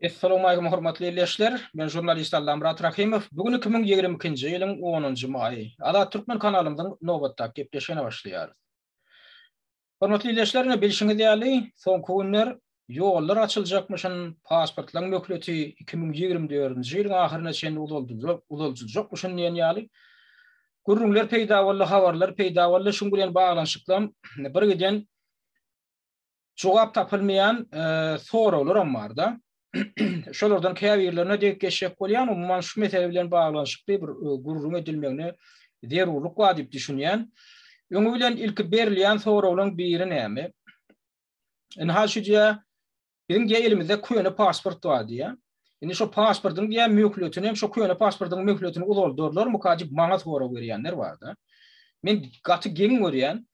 Essalowmaleýkum hormatly ildeşler. Men žurnalist Allamyrat Rahymow. Bu gün iki müň ýigrimi ikinji ýylyň onunjy maýy. Azat Türkmen kanalymyzyň nobatdaky gepleşigine başlaýarys. Hormatly ildeşler, ine bilşiňiz ýaly, soňky günler ýollar açyljakmyşyn, pasportlaryň möhleti iki müň ýigrimi dördünji ýylyň ahyryna çenli uzaldyljak, uzaldyljak diýen ýaly gürrüňler peýda boldy, habarlar peýda boldy. Şuň bilen baglanyşykly bir giden Jogap tapylmaýan soraglaram barda. Şolardan käbirlerine dek geçjek bolýan, umuman şu mesele bilen baglanyşykly bir gürrüň edilmegine zerurlyk bar diýip düşünýän. Öňi bilen ilki berilýän soraglaryň biri näme? Ynha şu diýýär, biziň diýýär elimizde köne pasport bar diýýär. Indi şu pasportyň diýen möhletini hem şu köne pasportyň möhletini uzaldarlar, mukajyp maňa sorag berýänler barda. Men gaty geň görýän.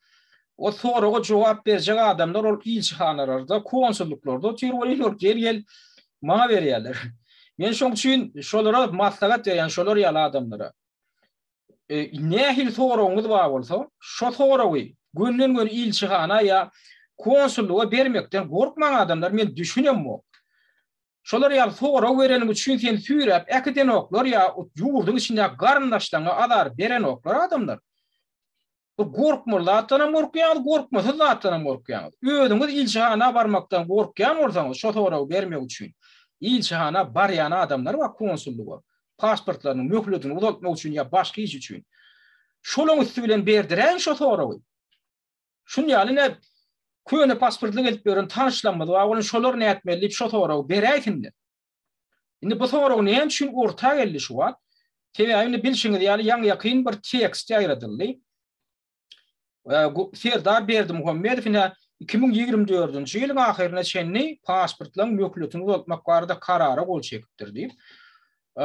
O soraga jogap berjek adamlar ol ilçihanalarda, konsulluklarda otyr bolýar, gel gel maňa berýärler. Men şoň üçin şolara maslahat berýän, şolar ýaly adamlara. E, nähili soragyňyz bar bolsa, şo soragy gönden gön ilçihana ýa konsulluga bermekden gorkmaň adamlar, men düşünemok. Şolar ýaly sorag bereniň üçin seni süýräp äkidenoklar ýa ýurduň içindäki garyndaşlaryňa azar berenoklar adamlar. Bir gorkmaly zatdanam gorkýaňyz, gorkmasyz zatdanam gorkýaňyz. Özüňiz ilçihana barmakdan gorkýan bolsaňyz şo soragy bermek üçin ilçihana barýan adamlar bar konsullyga pasportlarynyň möhletini uzaltmak üçin ýa başga iş üçin. Şolaň üsti bilen berdiräýiň şo soragy. Şun ýaly näp köne pasportly gelip ýören tanyşlarymyz bar bolan şolar nätmeli diýip şo soragy beräýsinler. Indi bu sorag näme üçin orta geldi şu wagt? Sebäbi indi bilşiňiz ýaly ýaňy ýakyn bir tekst ýaýradyldy. Serdar Berdimuhamedow ine 2024-nji ýylyň ahyryna çenli pasportlaryň möhletini uzaltmak barada karara gol çekipdir diýip.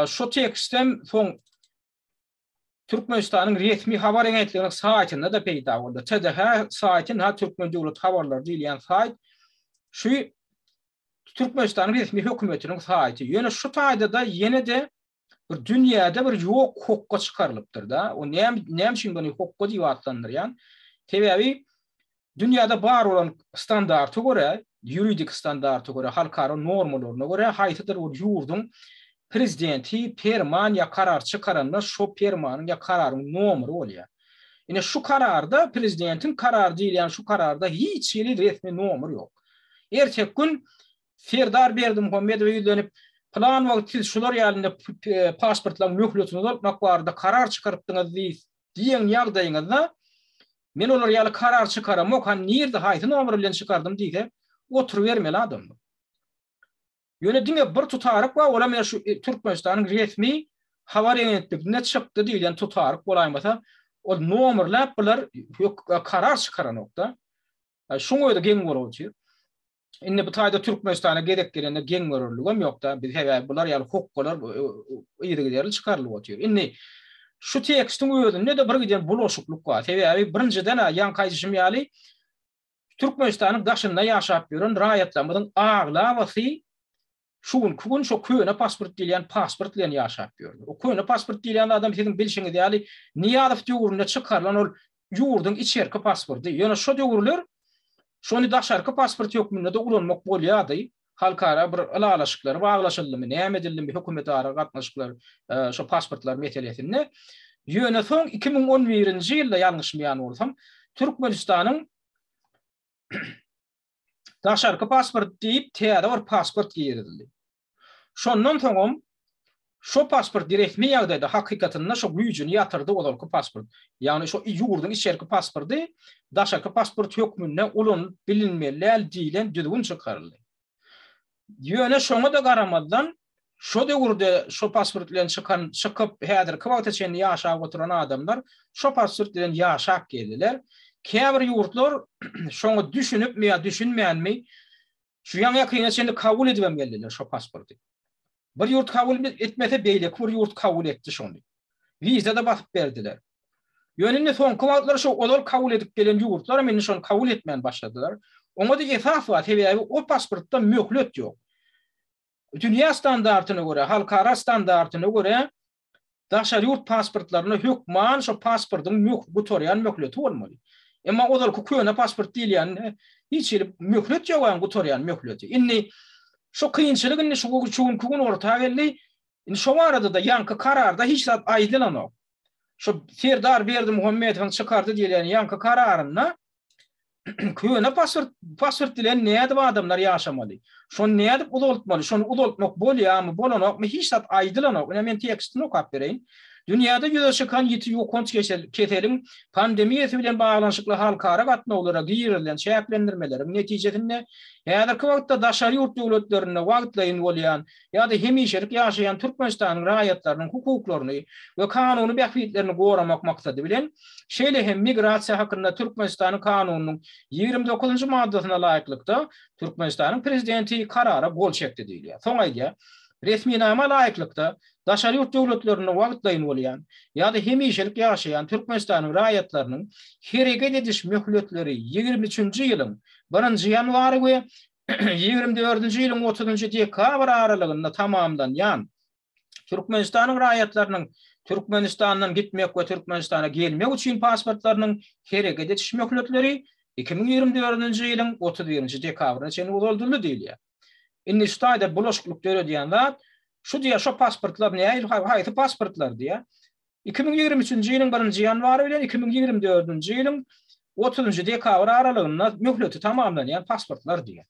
Şu tekstem soň Türkmenistanyň resmi habar agentliginiň saýtynda-da peýda boldy. TDH saýty na Türkmen döwlet habarlary diýilýän saýt şu Türkmenistanyň resmi hökümetiniň saýty. Ýöne şu taýda-da ýene-de bir dünýäde bir ýok hokga çykarylypdyr-da. O näme näme üçin muny hokga diýip atlandyrýan? Sebäbi Dünýäde bar bolan standarta görä, ýuridik standarta görä, halkara normalaryna görä haýsydyr bir ýurduň Prezidenti perman ýa karar çykaranda şo permanyň ýa kararyň nomry bolýar. Ine şu kararda Prezidentiň karary diýilýän şu kararda hiç hili resmi nomry ýok. Erteki gün Serdar Berdimuhamedowa ýüzlenip Pylan wagt siz şular ýalynda pasportlaryň möhletini uzaltmak barada karar çykarypdyňyz diýen ýagdaýyňyzda Men olar ýaly karar çykaramok, hany nirde haýsy nomer bilen çykardym diýse, oturybermeli adamdyr. Ýöne diňe bir tutaryk bar, olam ýa şu Türkmenistanyň resmi habar egentliginde çykdy diýlen tutaryk bolaýmasa, ol nomerläp bular karar çykaranokda. Şuň özi geň bolup otyr. Indi bu taýda Türkmenistana gezek gelende geň görerligem ýok-da, biz sebäbi bular ýaly hokgalar yzygiderli çykarylyp otyr. Indi şu tekstiň özünde-de bir giden bulaşyklyk bar. Sebäbi birinjiden-ä ýaňky aýdyşym ýaly Türkmenistanyň daşynda ýaşap ýören raýatlarymyzyň aglabasy Şu günki gün şo köne pasport diýilýän pasport bilen ýaşap ýörler. O köne pasport diýilýän adam siziň bilşiňiz ýaly Nyýazow döwründe çykarylan ol ýurduň içerki pasporty. Ýöne şo döwürler şony daşarky pasport hökmünde-de ulanmak bolýardy. Halkara bir ylalaşyklar baglaşyldymy, näme edildimi hökümet ara gatnaşyklar şo pasportlar meselesinde. Ýöne soň iki müň on birinji ýylda ýalňyşmaýan bolsam, Türkmenistanyň daşarky pasport diýip täze bir pasport girizildi. Şondan soňam şo pasport resmi ýagdaýda hakykatynda şo güýjüni ýatyrdy ozalky pasport. Ýagny şo ýurduň içerki pasporty daşarky pasport hökmünde ulanylyp bilinmeli däl diýlen düzgün çykaryldy. Ýöne şoňa-da garamazdan, şo döwürde şo pasport bilen çykan, çykyp, häzirki wagta çenli ýaşap oturan adamlar şo pasport bilen ýaşap geldiler. Käbir ýurtlar şoňa düşünipmi ýa düşünmänmi, şu ýaňy-ýakynda çenli kabul edibem geldiler şo pasporty. Bir ýurt kabul etmese, beýleki bir ýurt kabul etdi şony. Wiza-da basyp berdiler. Ýöne indi soňky wagtlar şo ozal kabul edip gelen ýurtlaram indi şony kabul etmän başladylar. Oňa-da esas bar, sebäbi o pasportda möhlet ýok. Dünýä standartyna görä, halkara standartyna görä daşary ýurt pasportlaryna hökman şo pasportyň gutarýan möhleti bolmaly. Emma ozalky köne pasport diýilýän hiç hili möhlet ýok aň gutarýan möhleti. Indi şo kynçylyk indi şu günki gün orta geldi. Indi şo barada-da ýaňky kararda hiç zat aýdylanok. şu Serdar Berdimuhamedowyň çykardy diýlen ýaňky kararynda köne pasport pasport bilen nädip adamlar ýaşamaly? Şony nädip uzaltmaly? Şony uzaltmak bolýarmy, bolanokmy? Hiç zat aýdylanok. Ine men tekstini okap bereýin. Dünýäde ýüze çykan ýiti ýokanç kesel, keseliň pandemiýasy bilen baglanyşykly halkara gatnawlara girizilen çäklendirmeleriň netijesinde häzirki wagtda daşary ýurt döwletlerinde wagtlaýyn bolýan ýa-da hemişelik ýaşaýan Türkmenistanyň raýatlarynyň hukuklaryny we kanuny bähbitlerini goramak maksady bilen, şeýle hem Migrasiýa hakynda Türkmenistanyň Kanunynyň ýigrimi dokuzynjy maddasyna laýyklykda, Türkmenistanyň Prezidenti Karara gol çekdi diýilýär. Soň aýdýar, Resminama laýyklykda, daşary ýurt döwletlerinde wagtlaýyn bolýan ýa-da hemişelik ýaşaýan Türkmenistanyň raýatlarynyň hereket ediş möhletleri ýigrimi üçünji ýylyň birinji ýanwary we ýigrimi dördünji ýylyň otuzynjy dekabr aralygynda tamamlanýan Türkmenistanyň raýatlarynyň Türkmenistandan gitmek we Türkmenistana gelmek üçin pasportlarynyň hereket ediş möhletleri iki müň ýigrimi dördünji ýylyň otuz birinji dekabryna çenli uzaldyldy diýilýär. Indi şu taýda bulaşyklyk döredýän zat, şu diýýär, şo pasportlar nähili, haýsy pasportlar diýýär. Iki müň ýigrimi üçünji ýylyň birinji ýanwary bilen iki müň ýigrimi dördünji ýylyň otuzynjy dekabry aralygynda möhleti tamamlanýan pasportlar diýýär.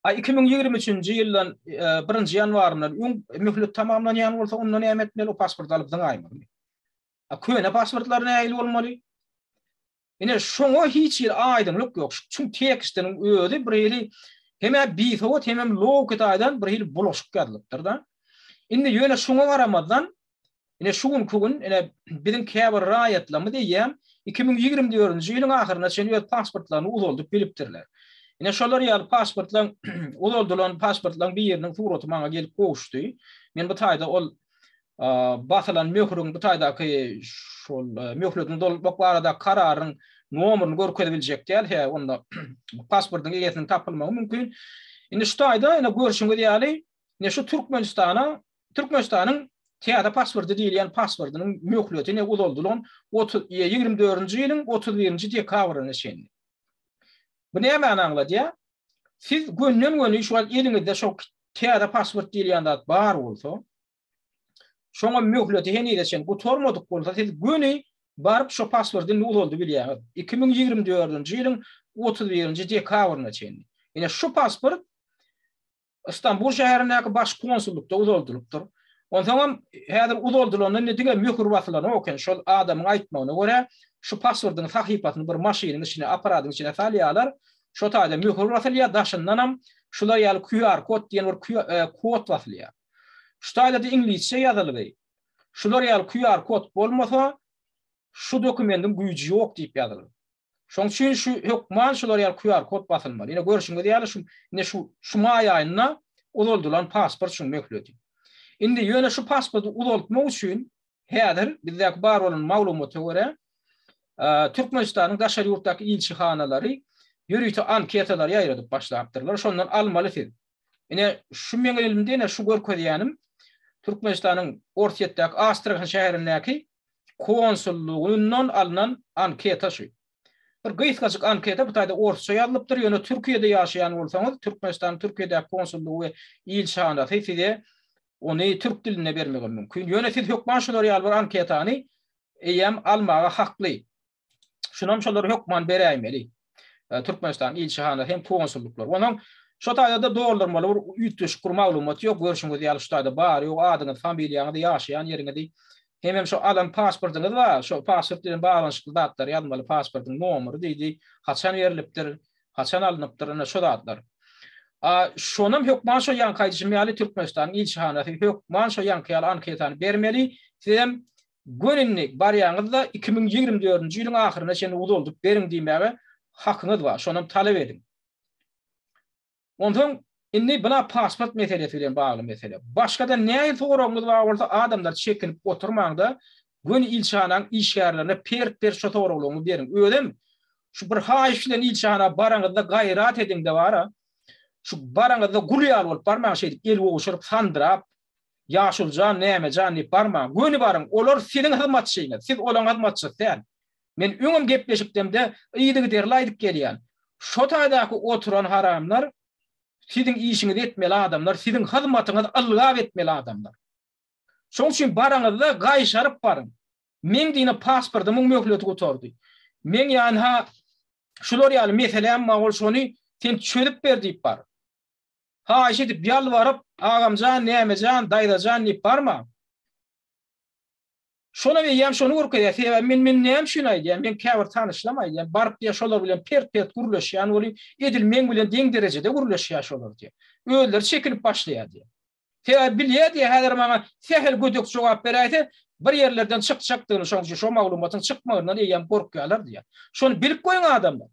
A iki müň ýigrimi üçünji ýyldan e, birinji ýanwaryndan öň möhlet tamamlanýan bolsa, onda näme etmeli? O pasporty alyp zyňaýmaly. A köne pasportlar nähili bolmaly? Ine, şoňa hiç hili aýdyňlyk ýok. Çün tekstiniň özi bir hili hem-ä bisowat, hemem logiki taýdan bir hili bulaşyk ýazylypdyr-da. Indi ýöne şoňa garamazdan, ine, şu günki gün, ine, biziň käbir raýatlarymyz eýýäm iki müň ýigrimi dördünji ýylyň ahyryna çenli öz pasportlaryny uzaldyp bilipdirler. Ine, şolar ýaly pasportlaryň, uzaldylan pasportlaryň biriniň suraty maňa gelip gowuşdy. Men bu taýda ol basylan möhrüň bu taýdaky şol möhlediň dolmak baradaky kararyň nomerini görkezip biljek däl, hä, onda pasportyň eýesiniň tapylmagy mümkin. Indi şu taýda ine görşüňiz ýaly, ine şu Türkmenistana, Türkmenistanyň täze pasporty diýilýän pasportynyň möhleti ine uzaldylan otuz, ýigrimi dördünji ýylyň otuz birinji dekabryna çenli. Bu nämäni aňladýar? Siz gönden-göni şu wagt eliňizde şo täze pasport diýilýän zat bar bolsa, Şoňa möhleti henize çen gutarmadyk bolsa, siz göni baryp şo pasporty indi uzaldyp bilýäňiz. 2024-nji ýylyň 31-nji dekabryna çenli. Ine şu pasport Istanbul şäherindäki baş konsullykda uzaldylypdyr. Onsoň hem häzir uzaldylanda indi diňe möhür basylanok eken. Şol adamyň aýtmagyna görä, şu pasportyň sahypasyny bir maşynyň içine, apparatyň içine salýarlar. Şo taýda möhür basylýar, daşyndan hem şular ýaly QR kod diýen bir e, kod basylýar. Şu taýda-da iňlisçe ýazylgy, Şular ýaly QR kod bolmasa, şu dokumendiň güýji ýok diýip ýazylgy. Şonuň üçin şu hökman şular ýaly QR kod basylmaly. Ine görşüňiz ýaly şu ine şu şu maý aýynda uzaldylan pasport şuň möhleti. Indi ýöne şu pasporty uzaltmak üçin häzir bizdäki bar bolan maglumata görä Türkmenistanyň daşary ýurtdaky ilçihanalary ýörite anketalar ýaýradyp başlapdyrlar. Şondan almaly siz. Ine şu meň elimde ine şu görkezýänim Türkmenistanyň Orsýetdäki Astrahan şäherindäki konsullygyndan alnan anketa şu. Bir gysgajyk anketa bu taýda orsça ýazylypdyr, ýöne Türkiýede ýaşaýan bolsaňyz, Türkmenistanyň Türkiýedäki konsullygy we ilçihanasy size ony türk dilinde bermegi mümkin. Ýöne siz hökman şular ýaly bir anketany eýýäm almaga hakly. Şunam şolary hökman beräýmeli. E, Türkmenistan ilçihana hem konsulluklar. Onuň Şu taýda doldurmaly bir üýtgeşik bir maglumat ýok. Görşüňiz ýaly şu taýda bar ýok adyňyz, familiýaňyz, ýaşaýan ýeriňizi. Hem hem şu alan pasportyňyz bar. Şu pasport bilen baglanyşykly zatlar ýazmaly, pasportyň nomeri diýdi. Haçan berilipdir, haçan alnypdyr, ine şu zatlar. A şonam hökman şu ýanky aýdyşym ýaly Türkmenistanyň ilçihanasy hökman şu ýanky ýaly anketany bermeli. Sizem Gör indi, barýaňyz-da, iki müň ýigrimi dördünji ýylyň ahyryna çenli uzaldyp beriň diýmäge hakyňyz bar, şonam talap ediň. Onsoň, indi bula pasport meselesi bilen bagly mesele. Başga-da nähili soragyňyz bar bolsa, adamlar çekinip oturmaň-da, göni ilçihanaň işgärlerine pert-pert şo soraglaryňy beriň. Özem, şu bir haýyş bilen ilçihana baraňyzda gaýrat ediň-de bara, şu baraňyzda gul ýaly bolup barmaň, şeýdip el gowşuryp, sandyrap, Ýaşul jan, näme jan diýip barmaň. Göni baryň, olar siziň hyzmatçyňyz, siz olaň hyzmatçysy däl. Men öňem gepleşikdemde yzygiderli aýdyp gelýän. Şo taýdaky oturan haramlar siziň işiňizi etmeli adamlar, siziň hyzmatyňyzy ylgap etmeli adamlar. Şoň üçin baraňyzda gaýşaryp baryň. Meň diýne pasportymyň möhleti gutardy. Meň ýanha şular ýaly meseläm bar, ol şony sen çözüp ber diýip bar. haýyş edip, ýalbaryp, agamjan, nämejan, daýzajan diýip barmaň. Şonam eýýäm şony görkezýär, sebäbi men men näme üçin aýdýan, men käbir tanyşlam aýdýan, baryp diýýär, şolar bilen pert-pert gürleşýän welin, edil meň bilen deň derejede gürleşýär şolar diýýär. Özleri çekinip başlaýar diýýär. Sebäbi bilýär diýýär, häzir maňa sähel gödek jogap beräýse, bir ýerlerden çykjakdygyny, şonuň üçin şo maglumatyň çykmagyndan eýýäm gorkýarlar diýýär. Şony bilip goýuň adamlar.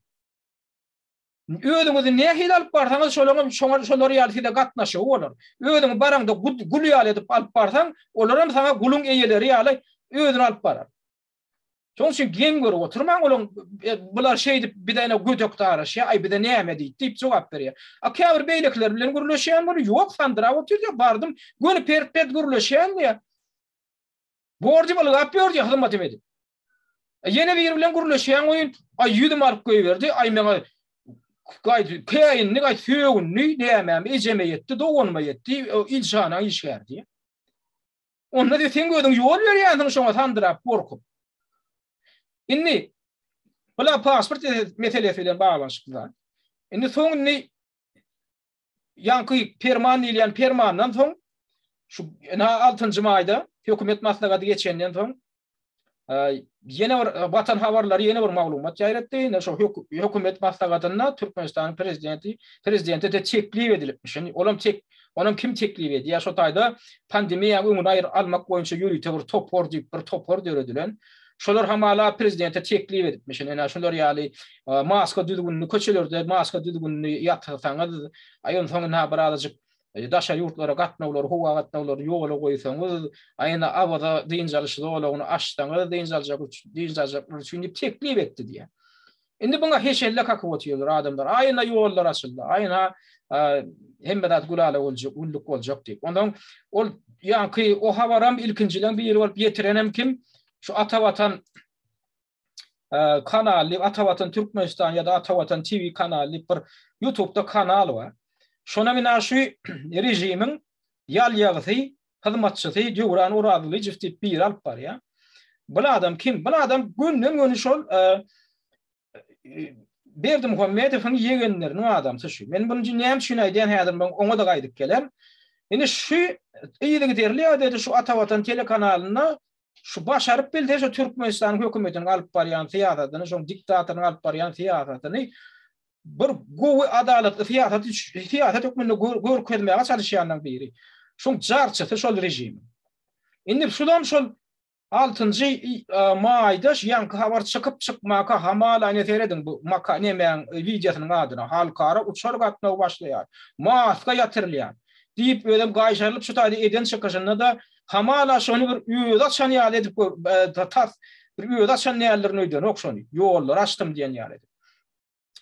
Özüňizi nähili alyp barsaňyz, şolaňam şoňa şolar ýaly size gatnaşygy bolar. Özüňi baraňda gul ýaly edip alyp barsaň, olaram saňa guluň eýeleri ýaly özüni alyp barar. Şoň üçin geň görüp oturmaň, olaň e, bular şeýdip bize ene gödek daraşýar, aý bize näme diýip diýip jogap berýär. A käbir beýlekiler bilen gürleşýän bolup, ýok sandyrap oturýar, bardym, göni pert-pert gürleşýän diýär. Borjum ylgap ýördi, hyzmatym edip. Ýene biri bilen gürleşýän goýun, aý ýüzüm alyp goýberdi, aý meňe gaýt, käýindi, gaýt sögündi, nämämi ejeme ýetdi, doganyma ýetdi, ilçana işgärdi. Onda de sen özüň ýol berýänsiň şoňa sandyrap, gorkup. Indi bula pasport meselesi bilen baglanyşykly. Indi soň indi Ýaňky perman diýilýän permandan soň, şu ene altynjy maýda hökümet maslahaty geçenden soň, ýene bir Watan habarlary ýene bir maglumat ýaýratdy. Ine şu hökümet maslahatynda Türkmenistanyň prezidenti prezidente de teklip edilipmiş. Indi olam tek onam kim teklip edýär? Şu taýda pandemiýanyň öňüni almak boýunça ýörite bir topar diýip, bir topar döredilen. Şolar hamala prezidente teklip edipmiş, ine, şular ýaly maska düzgünini, köçelerde maska düzgünini ýatyrsaňyz, aý, onsoň ine, birazajyk daşary ýurtlara gatnawlary, howa gatnawlaryny ýola goýsaňyz, aý, ine, Awaza dynç alyş zolagyny açsaňyz, dynç aljak, dynç aljaklar üçin diýip teklip etdi diýýär. Indi buňa heşelle kakyp otyrlar adamlar, Aý ynha ýollar açyldy, aý ynha hemme zat gülala boljak, güllük boljak diýip. Onsoň ol ýaňky o habaram ilkinjileň biri bolup ýetirenem kim? Şu Atawatan kanaly diýip, Atawatan Türkmenistan ýa-da Atawatan TV kanaly diýip bir Ýutubda kanal bar. Şonam ynha şu režimiň ýalýagysy hyzmatçysy Döwran Orazlyjow diýip biri alyp barýar. Bul adam kim? Bul adam günden-güni şol Berdi Muhammedowyň ýegenleriniň adamsy şu. Men bunu näme üçin aýdýan häzir men oňa da gaýdyp gelen. Indi şu ýygy giderli ýagdaýda şu Ata Watan telekanalynda şu başaryp bilse şu Türkmenistanyň hökümetiniň alyp barýan syýasatyny, şu diktatoryň alyp barýan syýasatyny bir gowy adalatly syýasat syýasat hökmünde görkezmäge çalyşýanlaryň biri. Şoň jarçysy şol režimiň. Indi şulam şol 6-njy maýda ýaňky habar çykyp çykmaka hamala ine serediň bu maka nemäň wideosynyň adyna halkara uçar gatnawy başlaýar. Maska ýatyrylýar. Diýip özem gaýşarylyp şu taýda eden çykyşynda-da hamala şony bir özi açan ýaly edip tas bir özi açan däldir öýdenok şony. Ýollary açdym diýen ýaly edip.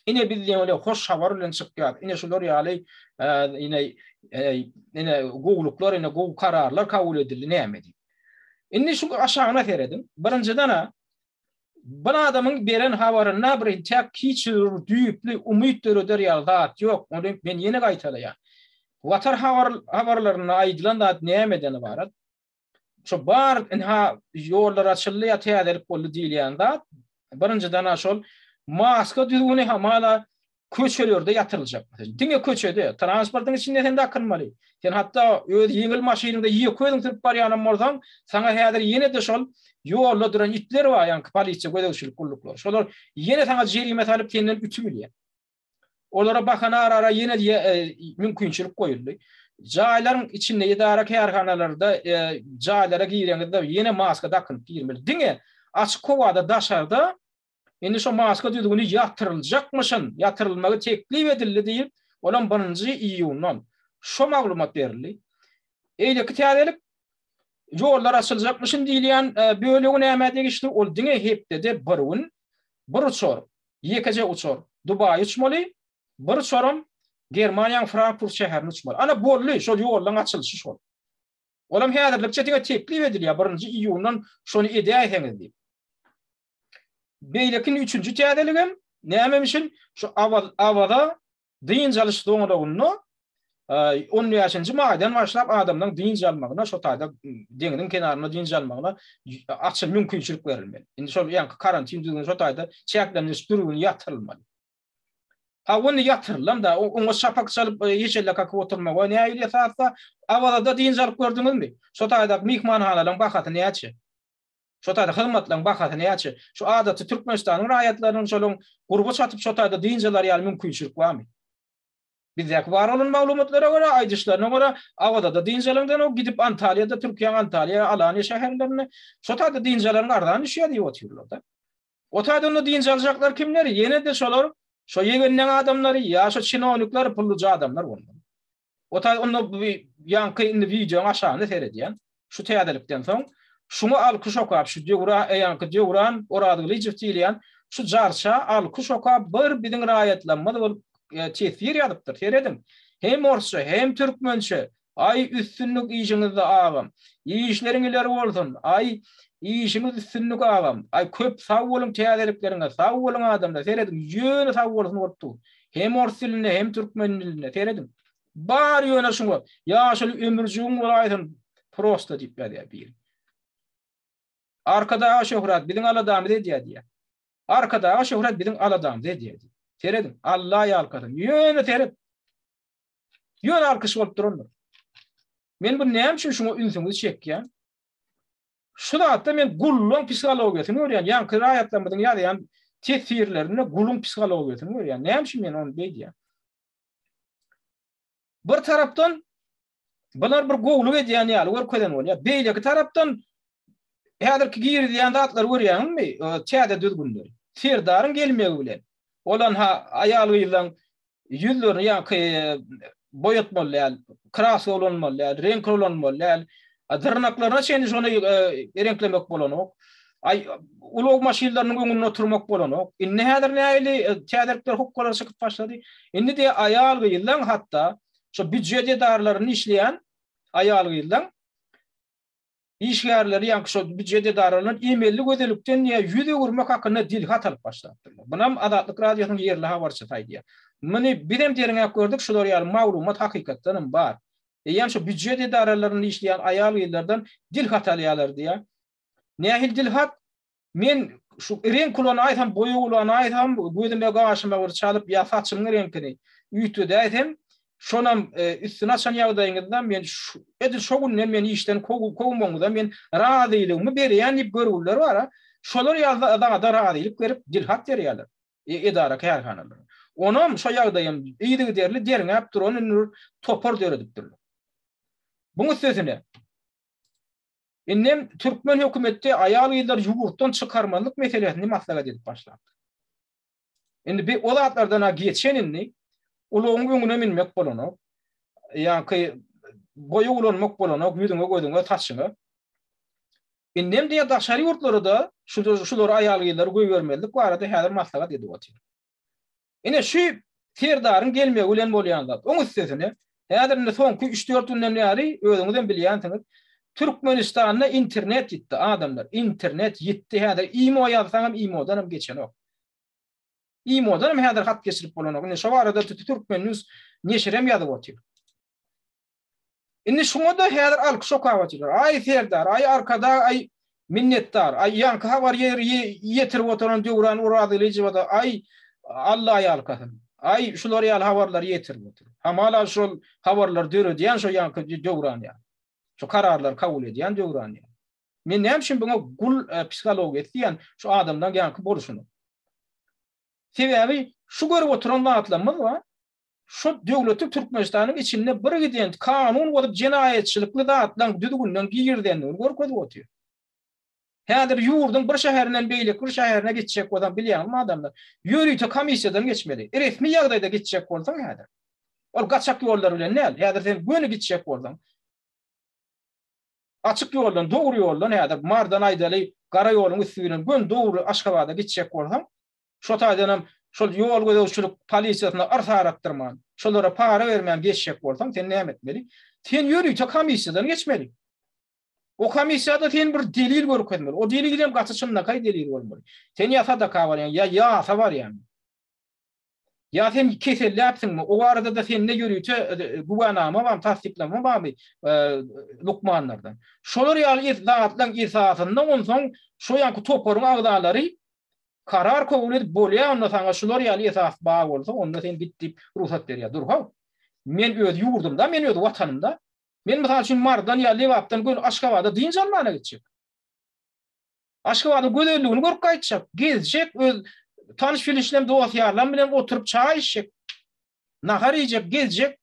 Ine biz diýen ýaly hoş habar bilen çykýarys. Ine şular ýaly ine ine gowulyklar, ine gowy kararlar kabul edildi näme diýip. Indi şu aşagyna serediň. Birinjiden bir adamyň beren habarynda bir täk hiç düýpli umyt döreder ýaly zat ýok. Ony men ýene gaýtalaýan. Watar habar habarlarynda aýdylan zat nämeden ibarat? Şu bar inha ýollar açyldy ýa täzelik boldy diýilýän zat. Birinjiden ha şol maska düzgüni hamala köçelerde ýatyryljak. Diňe köçede, transportyň içinde sen dakynmaly. Sen hatda öz ýeňil maşynyňda ýeke özüň sürüp barýanam bolsaň, saňa häzir ýene-de şol ýolda duran itler bar, ýaňky polisiýa gözegçilik gulluklary. Şolar ýene saňa jerime salyp senden ütü bilýär. Olara bakan ara-ara ýene mümkinçilik goýuldy. Jaýlaryň içinde edara kärhanalarda jaýlara gireňizde ýene maska dakynyp girmeli. Diňe açyk howada daşarda indi şo maska düzgüni ýatyryljakmyşyn, ýatyrylmagy teklip edildi diýip, ol hem birinji iýundan şo maglumat berildi. Eýleki täzelik, ýollar açyljakmyşyn diýilýän bölegi nämä degişli? Ol diňe hepdede bir gün, bir uçar ýekeje uçar Dubaýa uçmaly, bir uçaram Germaniýanyň Frankfurt şäherine uçmaly. Ana boldy, şol ýollaryň açylyşy şol. Olam häzirlikçe diňe teklip edilýär, birinji iýundan şony edäýseňiz diýip. Beýleki üçünji täzeligem näme üçin şu Awaza Dynç alyş zolagynda on bäşinji maýdan başlap adamlaryň dynç almagyna, şo taýda deňziň kenarynda dynç almagyna açyk mümkinçilik berilmeli. Indi şol ýaňky karantin düzgüni şo taýda çäklendiriş düzgüni ýatyrylmaly. Ha indi ýatyrylan-da, oňa şapak çalyp ýeşelle kakyp oturmaga nähili esasda? Awazada dynç alyp gördüňizmi? Şo taýda myhmanhanalaryň bahasy näçe? Şo taýda hyzmatlaryň bahasy näçe? Şu adaty Türkmenistanyň raýatlarynyň şolaryň gurby çatyp şo taýda dynç alar ýaly mümkinçilik barmy? Bizdäki bar bolan maglumatlara görä, aýdyşlaryna görä, Awazada dynç alaňdan o gidip Antaliýada, Türkiýäň Antaliýa, Alaniýa şäherlerinde şo taýda dynç alaryň arzan düşýär diýip otyrlar-da. O taýda onda dynç aljaklar kimler? Ýene-de şolar, şo ýegenleň adamlary ýa şo çinonikler, pullyja adamlar bolmaly. Otay onda bu ýaňky indi wideoň aşagyny seredýän. Şu täzelikden soň şuňa alkyş okap şu döwra ýaňky döwran Orazgylyjow diýilýän şu jarça alkyş okap bir biziň raýatlarymyz bolup teswir ýazypdyr serediň. Hem orsça hem türkmençe. Aý üstünlik işiňizde agam. Işleriň ileri bolsun. Aý işiňiz üstünlik agam. Aý köp sag boluň täzelikleriňe sag boluň adamlar serediň ýöne sag bolsun bolup dur. Hem ors dilinde, hem türkmen dilinde. Serediň. Bar ýöne şuňa. Ýaşuly ömürjügiň bolaýsyn. Prosta diýip ýazýar biri. Arkadaga şöhrat biziň aladamyz edýär diýýär. Arkadaga şöhrat biziň aladamyz edýär. Serediň. Allah ýalkasyn. Ýöne seret. Ýöne alkyş bolup durandyr. Men bu näme üçin şuňa ünsüňizi çekýän? Şu zatda men gulluň psihologiýasyny görýän, ýaňky raýatlarymyzyň ýazýan teswirlerinde guluň psihologiýasyny görýän. Näme üçin men ony beýdýän? Bir tarapdan bular bir gowulyk edýän ýaly görkezen bolýar. Beýleki tarapdan häzirki girizýän zatlary görýäňizmi? Täze düzgünleri. Serdaryň gelmegi bilen. Olanha aýal gyzlaň ýüzleri ýaňky boýatmaly däl, kraska ulanmaly däl, reňk ulanmaly däl. Dyrnaklaryna çenli şony reňklemek bolanok. Ay ulag maşynlarynyň öňünde oturmak bolanok. Indi häzir näli täzelikler hukuklar çykyp başlady. Indi de aýal gyzlaň hatda şu büdjet edaralaryny işleýän aýal gyzlaň Işgärleri ýa-da şol býujet edaralarynyň emelli gözellikden ýüz öwürmek hakynda dilhat alyp başlapdyrlar. Munam Azatlyk Radiosynyň ýerli habarçysy aýdýar. Muny bizem derňäp gördük, şular ýaly maglumat hakykatdan hem bar. Eýýäm şu býujet edaralarynda işleýän aýal-gyzlardan dilhat alýarlar diýýär. Nähili dilhat? Men şu reňk ulany aýsam, boýag ulany aýsam, gözüme, gaşyma bir çalyp ýa saçymyň reňkini üýtgedäýsem, şonam üstüni açan ýagdaýyňyzda men edil şo günden meni işden kowmagyňyza men razylygymy berýän diýip görgüliler bar-a. Şolar ýaly zada razylyk berip dilhat berýärler edara-kärhanalar. Onam şo ýagdaýam yzygiderli derňäp duran indi bir topar döredipdirler. Buň üstesine, Indem türkmen hökümetde aýal-gyzlary ýurtdan çykarmazlyk meselesini maslahat edip başlapdyr. Indi bi o zatlardan-a geçen indi, ulagyň öňüne münmek bolanok, ýa-ki boýa ulanmak bolanok, ýüzüňe-gözüňe, saçyňa. Indem diýýär, daşary ýurtlara-da şulary aýal-gyzlary goýbermezlik barada häzir maslahat edip otyr. Ine, şu Serdaryň gelmegi bilen bolýan zat. Oň üstesine, häzir indi soňky üç-dört günden bäri, özüňizem bilýänsiňiz, Türkmenistanda internet ýitdi, adamlar, internet ýitdi. Häzir imo ýazsaňam, imodan hem geçenok. Imodan hem häzir hat geçirip bolanok. Indi şo barada Türkmennews neşirem ýazyp otyr. Indi şuňa-da häzir alkyş okap oturlar. Aý, serdar, aý, arkadag, aý, minnetdar, aý, ýaňky habary ýer ýetirip oturan Döwran Orazylyjowa-da, aý, Alla ýalkasyn, aý, şular ýaly habarlary ýetirip otur. Hamala şol habarlary döredýän şo ýaňky Döwran ýaly. Şu kararlary kabul edýän Döwran ýaly. Men näme üçin buňa gul psihologiýasy diýýän şu adamlaryň ýaňky bolşuny. Sebäbi şu görüp oturan zatlarymyz bar. Şu döwleti Türkmenistanyň içinde birgiden kanun bozup jenaýatçylykly zatlaryň düzgünden girdendigini görkezip otyr. Häzir ýurduň bir şäherinden beýleki bir şäherine geçjek bolsaň bilýäňmi adamlar ýörite komissiýadan geçmeli. Resmi ýagdaýda gitjek bolsaň häzir. Ol gaçak ýollar bilen däl. Häzir sen göni gitjek bolsaň. Açyk ýoldan, dogry ýoldan häzir Mardan Aýdaly gara ýoluň üsti bilen göni dogry Aşgabada gitjek bolsaň, Şo taýdanam şol ýol gözegçilik polisiýasyna yrs arakdyrman, şolara para bermän geçjek bolsaň, sen näme etmeli? Sen ýörite komissiýadan geçmeli. O komissiýada sen bir delil görkezmeli. O delil hem gaty çynlakaý delil bolmaly. Sen ýa sadaka barýaň, ýa ýasa barýaň. Ýa sen keselläpsiňmi? O barada-da sende ýörite e, güwänama barmy, tassyklama barmy e, lukmanlardan? Şolar ýaly zatlaryň esasynda onsoň şu ýanky toparyň agzalary Karar kabul edip bolýa onda saňa şular ýaly esas bar bolsa onda sen git diýip rugsat berýä. Dur how. Men öz ýurdumda, men öz watanymda. Men mysal üçin Marydan ýa Lebapdan göni Aşgabada dynç almana gitjek. Aşgabadyň gözelligini görüp gaýtjak, gezjek, öz tanyş bilişlem dost ýarlam bilen oturyp çaý içjek. Nahar iýjek, gezjek.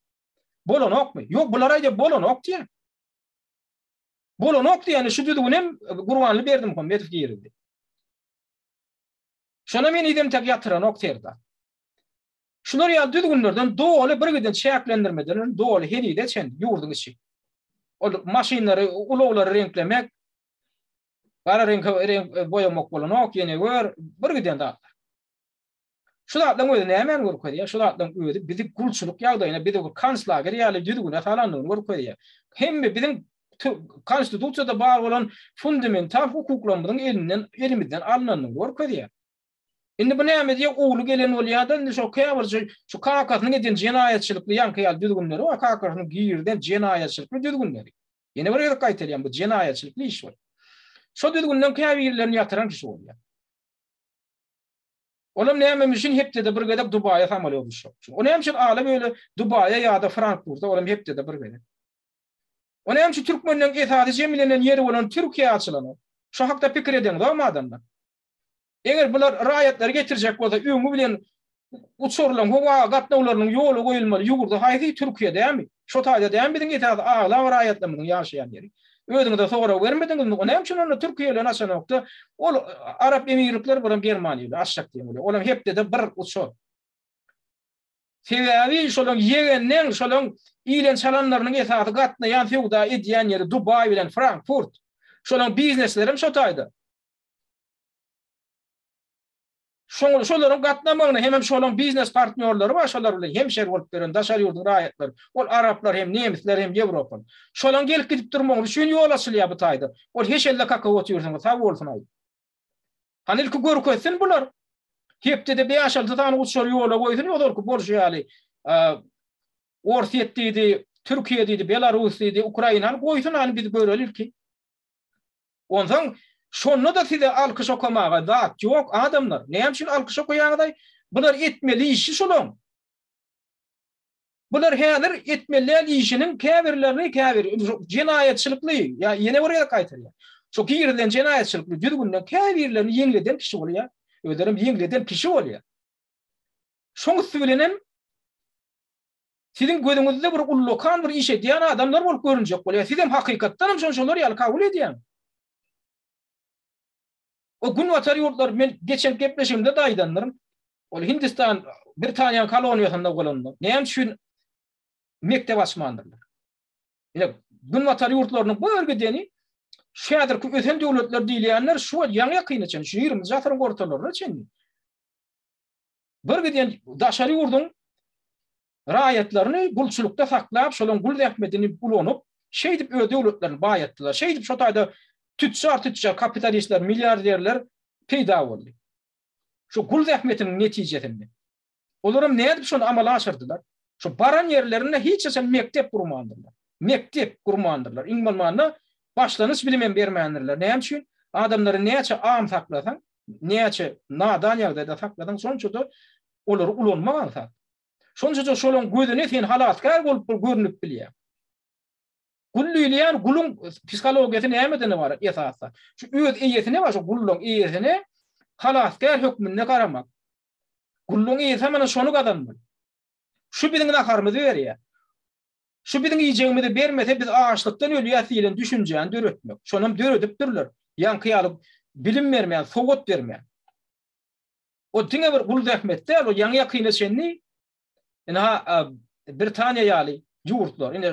Bolanokmy? Ýok, bular aýdýa bolanok diýä. Bolanok diýende şu düzgünem Gurbanly Berdimuhamedow girizdi. Şona men idem tek ýatyranok serda. Şular ýaly düzgünlerden doly bir giden çäklendirmeden doly henize çen ýurduň içi. Ol maşynlary, ulaglary reňklemek, gara reňke reňk boýamak bolanok, ýene gör, bir giden zatlar. Şu zatlaryň özi nämäni görkezýär? Şu zatlaryň özi bizi gulçulyk ýagdaýyna, bizi bir konslager ýaly düzgüne salandygyny görkezýär. Hemme biziň Konstitusiýada bar bolan fundamental hukuklarymyzyň elinden, elimizden alnandygyny görkezýär. Indi bu näme diýýär? Ogly gelen bolýar-da, indi şo käbir şu kakasynyň eden jenaýatçylykly ýaňky ýaly düzgünleri bar, kakasynyň girizen jenaýatçylykly düzgünleri. Ýene bir gezek gaýtalýan, bu jenaýatçylykly iş bolup. Şo düzgünden käbirlerini ýatyran kişi bolýar. Olam näme müşin hepdede bir gezek Dubaýa samolýot uçjak müşin. O näme üçin alym öýle Dubaýa ýa-da Frankfurta olam hepdede bir gezek. O näme üçin türkmenleň esasy jemlenen ýeri bolan Türkiýä açylanok. Şu hakda pikir edeňizokmy adamlar? Eger bular raýatlary getirjek bolsa öňi bilen uçurlaň howa gatnawlarynyň ýoly goýulmaly ýurdy haýsy Türkiýe dämi? Şo taýda dämi biziň esasy aglaba raýatlarymyzyň ýaşaýan ýeri. Özüňize sorag bermediňizmi, näme üçin onda Türkiýe bilen açanokda ol Arap Emirlikleri bilen Germaniýa bilen açjak diýen bolýar. Olam hepdede bir uçar. Sebäbi şolaň ýegeniň, şolaň ilen çalanlarynyň esasy gatnaýan söwda edýän ýeri Dubaý bilen Frankfurt. Şolaň bizneslerem şo taýda. Şoňly şolaryň gatnamagyny hemem şolaň biznes partnýorlary bar şolar bilen hemşer bolup ýören daşary ýurduň raýatlary, ol araplar hem nemisler hem ýewropaly. Şolaň gelip gidip durmagyny üçin ýol açylýar bu taýda. Ol heşelle kaka otyrsyňyz sag bolsun aýt. Hany ilki görkezsin bular. Hepdede bäş alty sany uçar ýola goýsun ozalky bolşy ýaly Orsýet diýdi, Türkiýe diýdi, Belarus diýdi, Ukraina goýsun hany biz göreli ilki. Onsoň şonda-da size alkyş okamaga zat ýok, adamlar. Näme üçin alkyş okaýaňyz-aý? Bular etmeli işi şolaň. Bular häzir etmeli däl işiniň käbirlerini, käbir jenaýatçylykly, ýa ýene bir gezek gaýtarýan. Şu girizilen jenaýatçylykly düzgünden käbirlerini ýeňleden kişi bolýar. Özlerem ýeňleden kişi bolýar. Şoň üsti bilenem Siziň gözüňizde bir ullakan bir iş edýän adamlar bolup görünjek bolýar. Sizem hakykatdanam şony şolar ýaly kabul edýäňiz. O Günbatar ýurtlary men geçen gepleşigimde de aýdandyryn. Ol Hindistan Britaniýanyň koloniýasynda bolanda näme üçin mekdep açmandyrlar? Ine Günbatar ýurtlarynyň bu örgideni şu häzirki ösen döwletler diýilýänler şu ýaňy ýakyna çenli, şu 20-nji asyryň ortalaryna çenli bir giden daşary ýurduň raýatlaryny gulçulykda saklap, şolaryň gul zähmetini ulanyp, şeýdip öz döwletlerini baýatdylar. Şeýdip şo taýda tütjar-tütjar kapitalistler, milliarderler peýda boldy. Şu gul zähmetiniň netijesinde. Olar hem nädip şony amala aşyrdylar? Şu baran ýerlerinde hiç haçan mekdep gurmandyrlar. Mekdep gurmandyrlar. Iň bolmanda başlanyş bilim hem bermändirler. Näme üçin? Adamlary näçe am saklasaň, näçe nadan ýagdaýda saklasaň, şonça-da olary ulanmak aňsat. Şonça-da şolaryň gözüne sen halasgär bolup görnüp bilýäň. Gul diýilýän guluň psihologiýasy nämeden ybarat esasda? Şu öz eýesine we şu guluň eýesine halasgär hökmünde garamak. Guluň eýesi hem şony gazanmaly. Şu biziň naharymyzy berýär. Şu biziň iýjegimizi bermese biz açlykdan ölýäs diýlen düşünjäni döretmek. Şonam döredipdirler. Ýaňky ýaly bilim bermän, sowat bermän. Ol diňe bir gul zähmet däl, ol ýaňy-ýakyna çenli ine ha Britaniýa ýaly ýurtlar, ine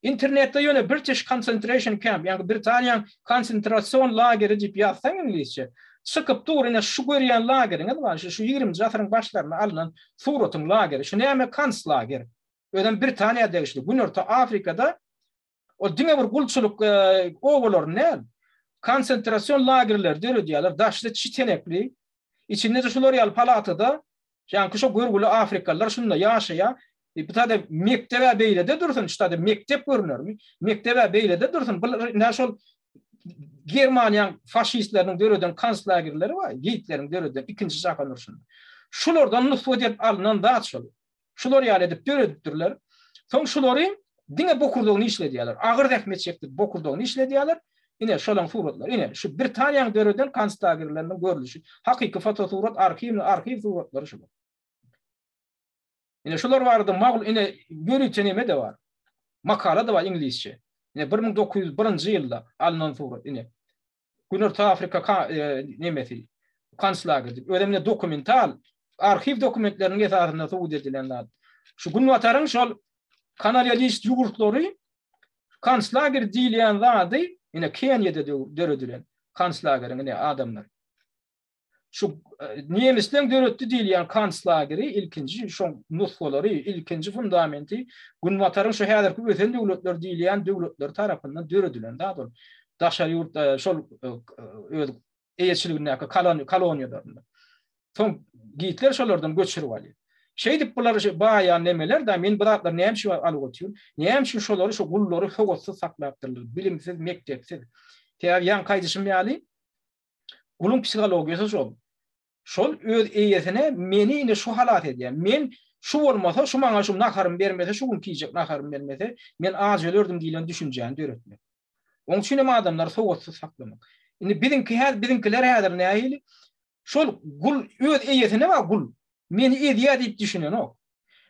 internetde ýöne British Concentration Camp, ýaňky Britaniýanyň konsentrasion lageri diýip ýazsaň iňlisçe, çykyp dur, ine şu görýän lageriňiz bar, şu şu ýigriminji asyryň başlarynda alnan suratyň lageri, şu näme konslager. özem Britaniýa degişli Günorta Afrikada ol diňe bir gulçulyk obalaryny däl, konsentrasion lagerleri döredýärler, daşy çit tenekli, içinde şular ýaly palatada janky şo görgüli afrikalylar şunda ýaşaýar. Bitada mekdebe beýlede dursun, ştada mekdep görünermi? Mekdebe beýlede dursun. Bu indi şol Germaniýanyň faşistleriniň döreden konslagerleri bar, Gitleriň döreden ikinji jahan urşunda. Şulardan nusga edip alnan zat şol. Şular ýaly edip döredipdirler. Soň şulary diňe bokurdagyny işledýärler. Agyr zähmet çekdirip bokurdagyny işledýärler. Ine şolaň suratlary. Ine şu Britaniýanyň döreden konstagirleriniň görnüşi. Hakyky fotosurat arhiwni arhiw suratlary şu. Ine şular barada magul ine ýörite näme de bar. Makala da bar iňlisçe. Ine 1901-nji ýylda alnan surat ine. Günorta Afrika ka, e, nemesi, konslager diýip. Özem de dokumental, arhiw dokumentleriniň esasynda subut edilen zat. Şu Günbataryň şol kanalýalist ýurtlary konslager diýilýän zady, ine Keniýada döredilen konslageriň ine adamlar. şu nemisleň döretdi diýilýän konslageri ilkinji şu nusgalary ilkinji fundamenti günbataryň şu häzirki ösen döwletler diýilýän döwletler tarapyndan döredilen zat ol daşary ýurtda şol e, öz eýeçiligindäki koloniýalarynda soň gitler şolardan göçürip alýar Şeýdip bular baýan nemeler da men bu zatlar näme üçin alyp otyryn? Näme üçin şolary şu gullary sowatsyz saklapdyrlar, bilimsiz, mekdepsiz. Täze ýan gaýdyşym ýaly Guluň psihologiýasy şol. Şol öz eýesine meni indi şu halas edýär. Men şu bolmasa, şu maňa şu naharymy bermese, şu günki iýjek naharymy bermese, men aç ölerdim diýlen düşünjäni döretmek. Oň üçin hem adamlary sowatsyz saklamak. Indi biziňki häzir biziňkiler häzir nähili? Şol gul öz eýesine we gul meni edýär diýip düşünenok.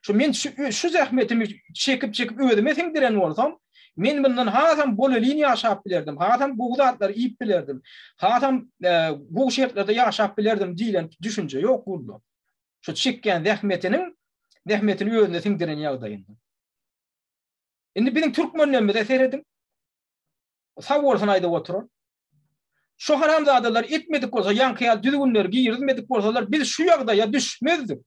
Şu men şu, şu zähmetimi çekip-çekip özüme siňdiren bolsam, men bundan hasam bolelin ýaşap bilerdim, hasam gowy zatlary iýip bilerdim, hasam e, gowy şertlerde ýaşap bilerdim diýlen düşünje ýok gurla. Şu çekýän zähmetiniň zähmetini özüne siňdiren ýagdaýynda. Indi biziň türkmenlerimize serediň. Sag bolsun aýdyp oturan. Şu haramzadalar etmedik bolsa, ýankyýal düzgünleri girizmedik bolsalar, biz şu ýagdaýa düşmezdik.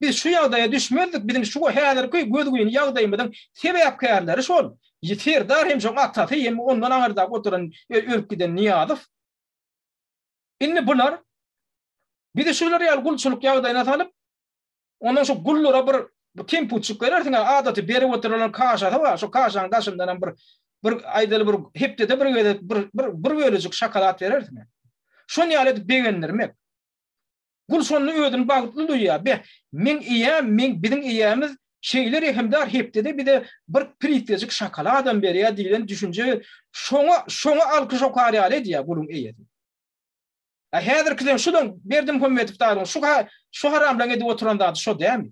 Biz şu ýagdaýa düşmezdik, biziň şu häzirki gözgyny ýagdaýymyzyň sebäpkärleri şol Serdar hem şoň atasy hem ondan aňyrda oturan ölüp giden Nyýazow. Indi bular bizi şular ýaly gulçulyk ýagdaýyna salyp, ondan şu gullara bir kim puçuk berersiň, adaty berip oturylan kaşasy bar, şu kaşanyň daşyndan hem bir bir aýdaly bir hepdede bir gezek bir bir bir bölejik şokolad berersiň. Şony ýaly edip begendirmek. Gul şonda özüni bagtly duýýar, Beh, meň eýäm, meň, biziň eýämiz şeýle rehimdar, hepdede bize bir plitkejik şokoladam berýär diýlen düşünje şoňa, şoňa alkyş-okar ýaly edýär guluň eýesi. Ä häzirkisem şudan, Berdimuhamedow dagyň şu, şu haramlaryň edip oturan zady şo dälmi?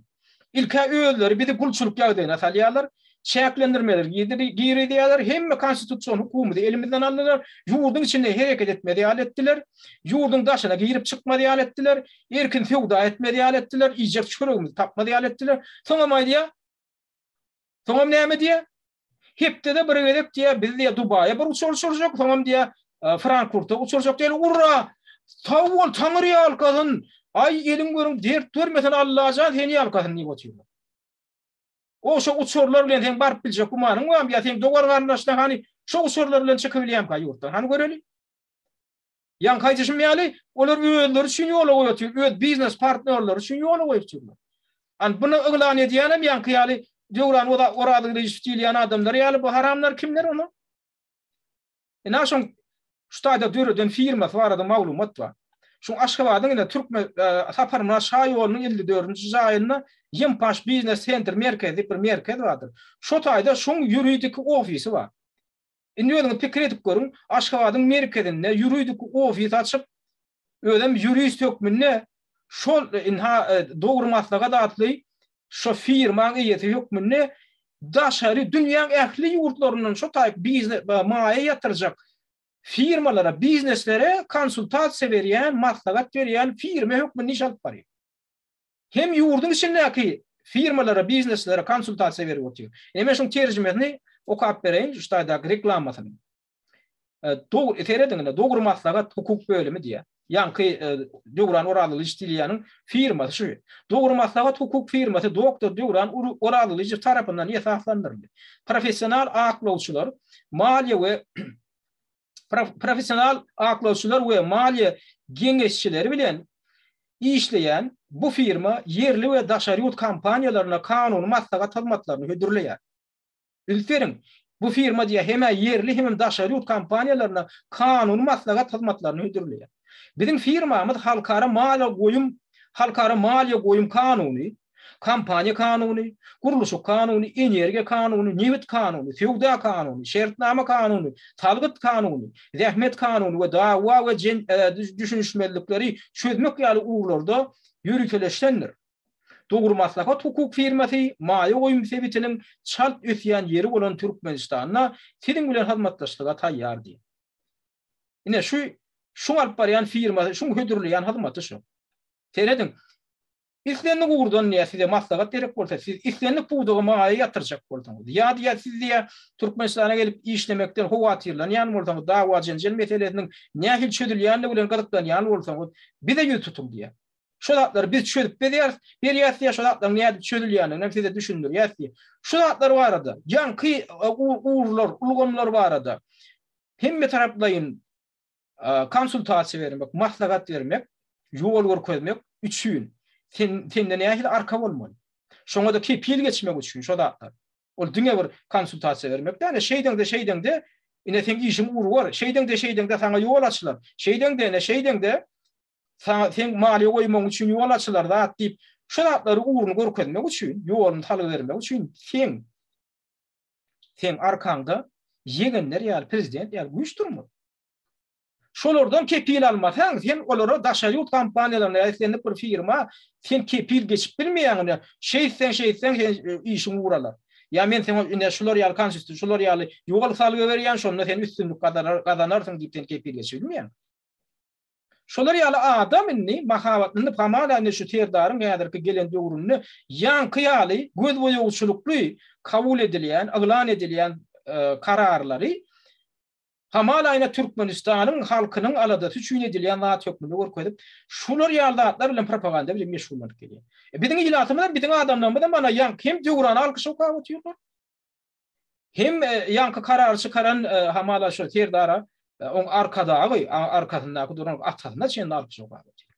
Ilk-ä özleri bizi gulçulyk ýagdaýyna salýarlar, çäklendirmeler girizýärler, hemme konstitusion hukumymyzy elimizden aldylar, ýurduň içinde hereket etmez ýaly etdiler, ýurduň daşyna girip-çykmaz ýaly etdiler, erkin söwda etmez ýaly etdiler, iýjek çöregimizi tapmaz ýaly etdiler. Soňam aýdýar, soňam näme diýýär? Hepdede bir gezek diýä biz diýä Dubaýa bir uçar uçurjak, soňam diýä e, Frankfurta uçurjak diýeli. Urra! Sag bol, Taňry ýalkasyn. Aý, eliň görüň dert görmesin Allajan seni ýalkasyn diýip otyrlar. O şu uçurlar bilen sen baryp biljek gumanyň barmy? Ýa sen dogar garyndaşdan hani şu uçurlar bilen çykyp bilýämka ýurtdan? Hani göreli. Ýaňky aýdyşym ýaly, olar özleri üçin ýola goýup otyr, öz biznes partnýorlary üçin ýola goýup otyrlar. An buny yglan edýän hem ýaňky ýaly Döwran Orazgiliýew diýilýän adamlar ýaly bu haramlar kimler onuň? Ine şoň şu taýda döreden firmasy barada maglumat bar. Şu Aşgabadyň ine Türkme Saparmyrat şa ýolunyň elli dördünji jaýynda Ýempaş biznes sentr merkez diýip bir merkez bardyr. Şo taýda şoň ýuridik ofisi bar. Indi özüňiz pikir edip görüň, Aşgabadyň merkezinde ýuridik ofis açyp, özem ýurist hökmünde şol ynha dogry maslahat atly şo firmaň eýesi hökmünde daşary dünýäň ähli ýurtlaryndan şo taýyp biznes maýa ýatyrjak firmalara, bizneslere konsultasiýa berýän, maslahat berýän firma hökmünde iş alyp barýar. hem ýurduň içindäki firmalara, bizneslere konsultasiýa berip otyr. Ine men şuň terjimesini okap bereýin, şu taýdaky reklamasyny. E, dogry, serediň ine, dogry maslahat hukuk bölümi diýýär. Ýaňky e, Döwran Orazolyýew Stiliýanyň firmasy şu. Dogry maslahat hukuk firmasy doktor Döwran Orazolyýew tarapyndan esaslandyryldy. Professional aklawçylar maliýe we professional aklawçylar we maliýe geňeşçileri bilen işleýän bu firma ýerli we daşary ýurt kompaniýalaryna kanuny maslahat hyzmatlaryny hödürleýär. Üns beriň, bu firma diýýär hem ýerli hem daşary ýurt kompaniýalaryna kanuny maslahat hyzmatlaryny hödürleýär. Biziň firmamyz halkara maliýe goýum halkara maliýe goýum kanuny Kompaniýa kanuny, Gurluşyk kanuny, Energiýa kanuny, Nebit kanuny, Söwda kanuny, Şertnama kanuny, Salgyt kanuny, Zähmet kanuny we dawa we düşünişmezlikleri çözmek ýaly ugurlarda ýöriteleşendir. Dogry maslahat hukuk firmasy maýa goýum sebitiniň çalt ösýän ýeri bolan Türkmenistanda siziň bilen hyzmatdaşlyga taýýar diýip. Ine şu şuň alyp barýan firmasy, şuň hödürleýän hyzmaty şu. Serediň, Islendik ugurdan ýa size maslahat gerek bolsa, siz islendik pudagy maýa ýatyrjak bolsaňyz, ýa-da siz ýa Türkmenistana gelip işlemekden howatyrlanýan bolsaňyz, dawa-jenjel meselesiniň nähili çözülýänligi bilen gyzyklanýan bolsaňyz, bize ýüz tutuň diýýär. Şu zatlary biz çözüp bezýäris, berýäris diýýär, şu zatlaryň nädip çözülýändigini hem size düşündirýäris diýýär. Şu zatlar barada, ýaňky ugurlar, ulgamlar barada hemmetaraplaýyn konsultasiýa bermek, maslahat bermek, ýol görkezmek üçin sen sende nähili arka bolmaly? Şoňa-da kepil geçmek üçin şo zatlar. Ol diňe bir konsultasiýa bermek däl, şeýdeňde şeýdeňde ine seň işiň ugur bar, şeýdeňde şeýdeňde saňa ýol açylar, şeýdeňde ine şeýdeňde saňa seň maliýe goýmagyň üçin ýol açylar zat diýip, şo zatlary ugruny görkezmek üçin, ýoluny salybermek üçin sen Seň arkaňda ýegenler ýaly prezident ýaly güýç durmaz. Şolardan kepil almasaň, sen olara daşary ýurt kompaniýalaryna ýa islendik bir firma sen kepil geçip bilmeýäň ine, şeýtseň şeýtseň sen e, işiň ugur alar. Ýa men sana ine şular ýaly konstitusiýa, şular ýaly ýuwaly salgy berýän, şonda sen üstünlik gazanarsyň diýip sen kepil geçip bilmeýäň. Şolar ýaly adam indi mahabatlanyp hamala indi şu serdaryň häzirki gelen döwründe ýaňky ýaly göz boýagyçylykly kabul edilýän, yglan edilýän kararlary hamala indi Türkmenistanyň halkynyň aladasy üçin edilýän zat hökmünde görkezip, şular ýaly zatlar bilen propaganda bilen meşgullanyp gelýär. Biziň ilatymyzam, biziň adamlarymyzam ana ýaňky hem döwrana alkyşa okap otyrlar. Hem ýaňky karary çykaran hamala şo Serdara oň arkadagy, arkasyndaky duran atasyna çenli alyp jogap edýär.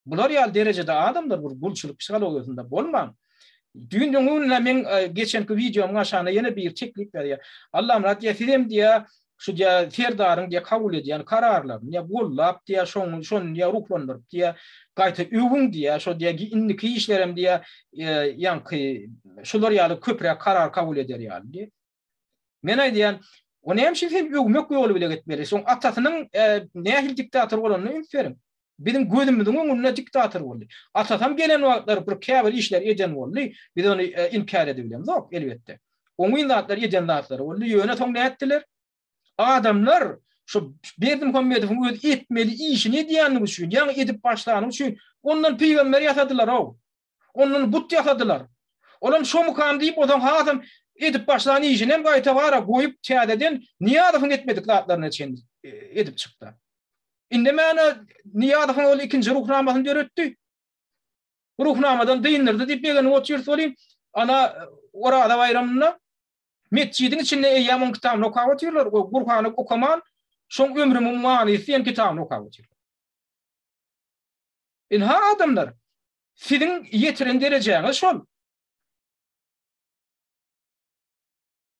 Bular ýaly derejede adamlar bir gulçulyk psihologiýasynda bolman, düýnüň gününe men geçenki wideomyň aşagyna ýene bir teklip berýär. Allamyrat diýýär, siz hem diýýär, Şu diýä serdaryň diýä kabul edýän kararlaryny diýä gollap diýä şoň şony diýä ruhlandyryp diýä gaýta öwüň diýä şo diýä indiki işler hem diýä e, ýaňky şular ýaly köpräk karar kabul eder ýaly diýä. Men aýdýan Ony hem sen öwmek ýoly bilen gitmeli. Soň atasynyň e, nähili diktator bolanyny üns beriň. Biziň gözümiziň öňünde diktator boldy. Atasam gelen wagtlary bir käbir işleri eden boldy. Biz ony inkär edibilemzok, elbetde. Oňyn zatlar eden zatlary boldy. Ýöne soň nätdiler? Adamlar şu Berdimuhamedowyň öz etmeli işini edýänligi üçin, ýaňy edip başlany üçin ondan pygamber ýasadylar-ow. Ondan but ýasadylar. Olam şomukam diýip, ozaň hasam edip başlan işinem gaýta bara goýup, täzeden Nyýazowyň etmedik zatlaryna çenli edip çykdy. Indi mana Nyýazowyň ol ikinji Ruhnamasyny döretdi. Ruhnamadan dyndyrdy diýip begenip otyrs welin, ana Oraza baýramynda metjidiň içinde eýýäm oň kitabyny okap otyrlar, Gurhany okaman, şoň ömrümiň manysy diýen kitabyny okap otyrlar. Ynha adamlar, siziň ýetiren derejäňiz şol.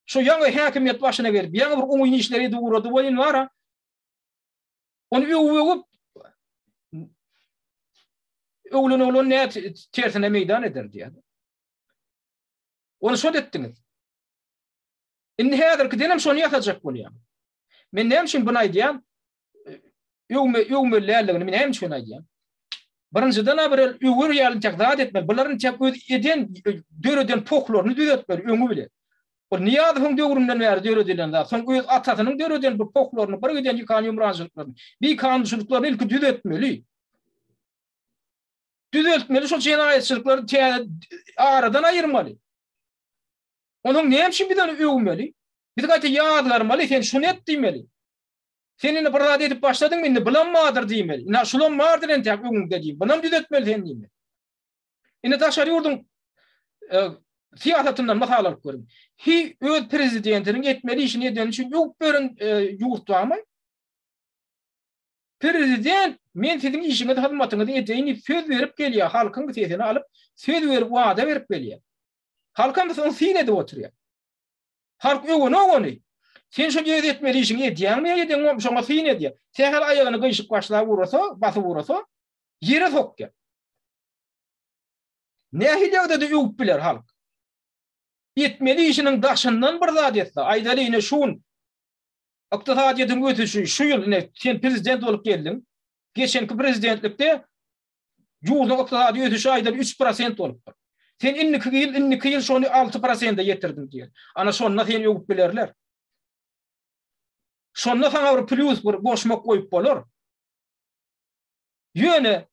Şu ýaňy häkimiýet başyna gelip, ýaňy bir oňyn işler edip ugrady welin bar-a, ony öwüp-öwüp, öwlen oglan nä tersine meýdan eder diýýärdi. Ony şod etdiňiz. Indi häzirkiden hem şony ýasajak bolýaň. Men näme üçin buny aýdýan? öwme öwmelilärligini men näme üçin aýdýan? Birinjiden a bir öwür ýaly tek zat etmeli. Bularyň tek öz eden döreden pohlaryny düzetmeli öňi bilen. Bu Niýazowyň döwründen bäri döredilen zat. Soň öz atasynyň döreden bu pohlaryny bir giden ýykan ýumranjylyklaryny, bir kanunçylyklaryny ilki düzetmeli. Düzeltmeli şol jenaýatçylyklary täze aradan aýyrmaly. Onuň näme üçin bizden öwmeli? Biz gaýta ýazgarmaly, sen şuny et diýmeli. Sen indi bir zat edip başladyňmy, indi bulam bardyr diýmeli. Ine, şulam bardyr entäk öňüňde diýip, bunam düzetmeli sen diýmeli. Indi daşary ýurduň e, syýasatyndan mysal alyp görüň. Hi öz prezidentiniň etmeli işini edeni üçin öwüp beren e, ýurt barmy? Prezident men siziň işiňizi hyzmatyňyzy edeýin diýip söz berip gelýär, halkyň sesini alyp, söz berip wada berip gelýär. Halkam soň syn edip oturýar. Halk öwenog ony. Sen şo öz etmeli işiňi edýäňmi ýa edeňoňmy şoňa syn edýä. Sähel aýagyny gyýşyk başlap urasa, basyp urasa, ýere sokýa. Nähili ýagdaýda öwüp biler halk? Etmeli işiniň daşyndan bir zat etse, aýdaly ine şu gün ykdysadyýetiň ösüşi şu ýyl ine sen prezident bolup geldiň. Geçenki prezidentlikde Ýurduň ykdysady ösüşi aýdan üç prosent bolupdyr. Sen indiki ýyl, indiki ýyl şony alty prosende ýetirdiň diýer. Ana şonda seni öwüp bilerler. Şonda saňa bir plýus bir goşmak goýup bolar. Ýöne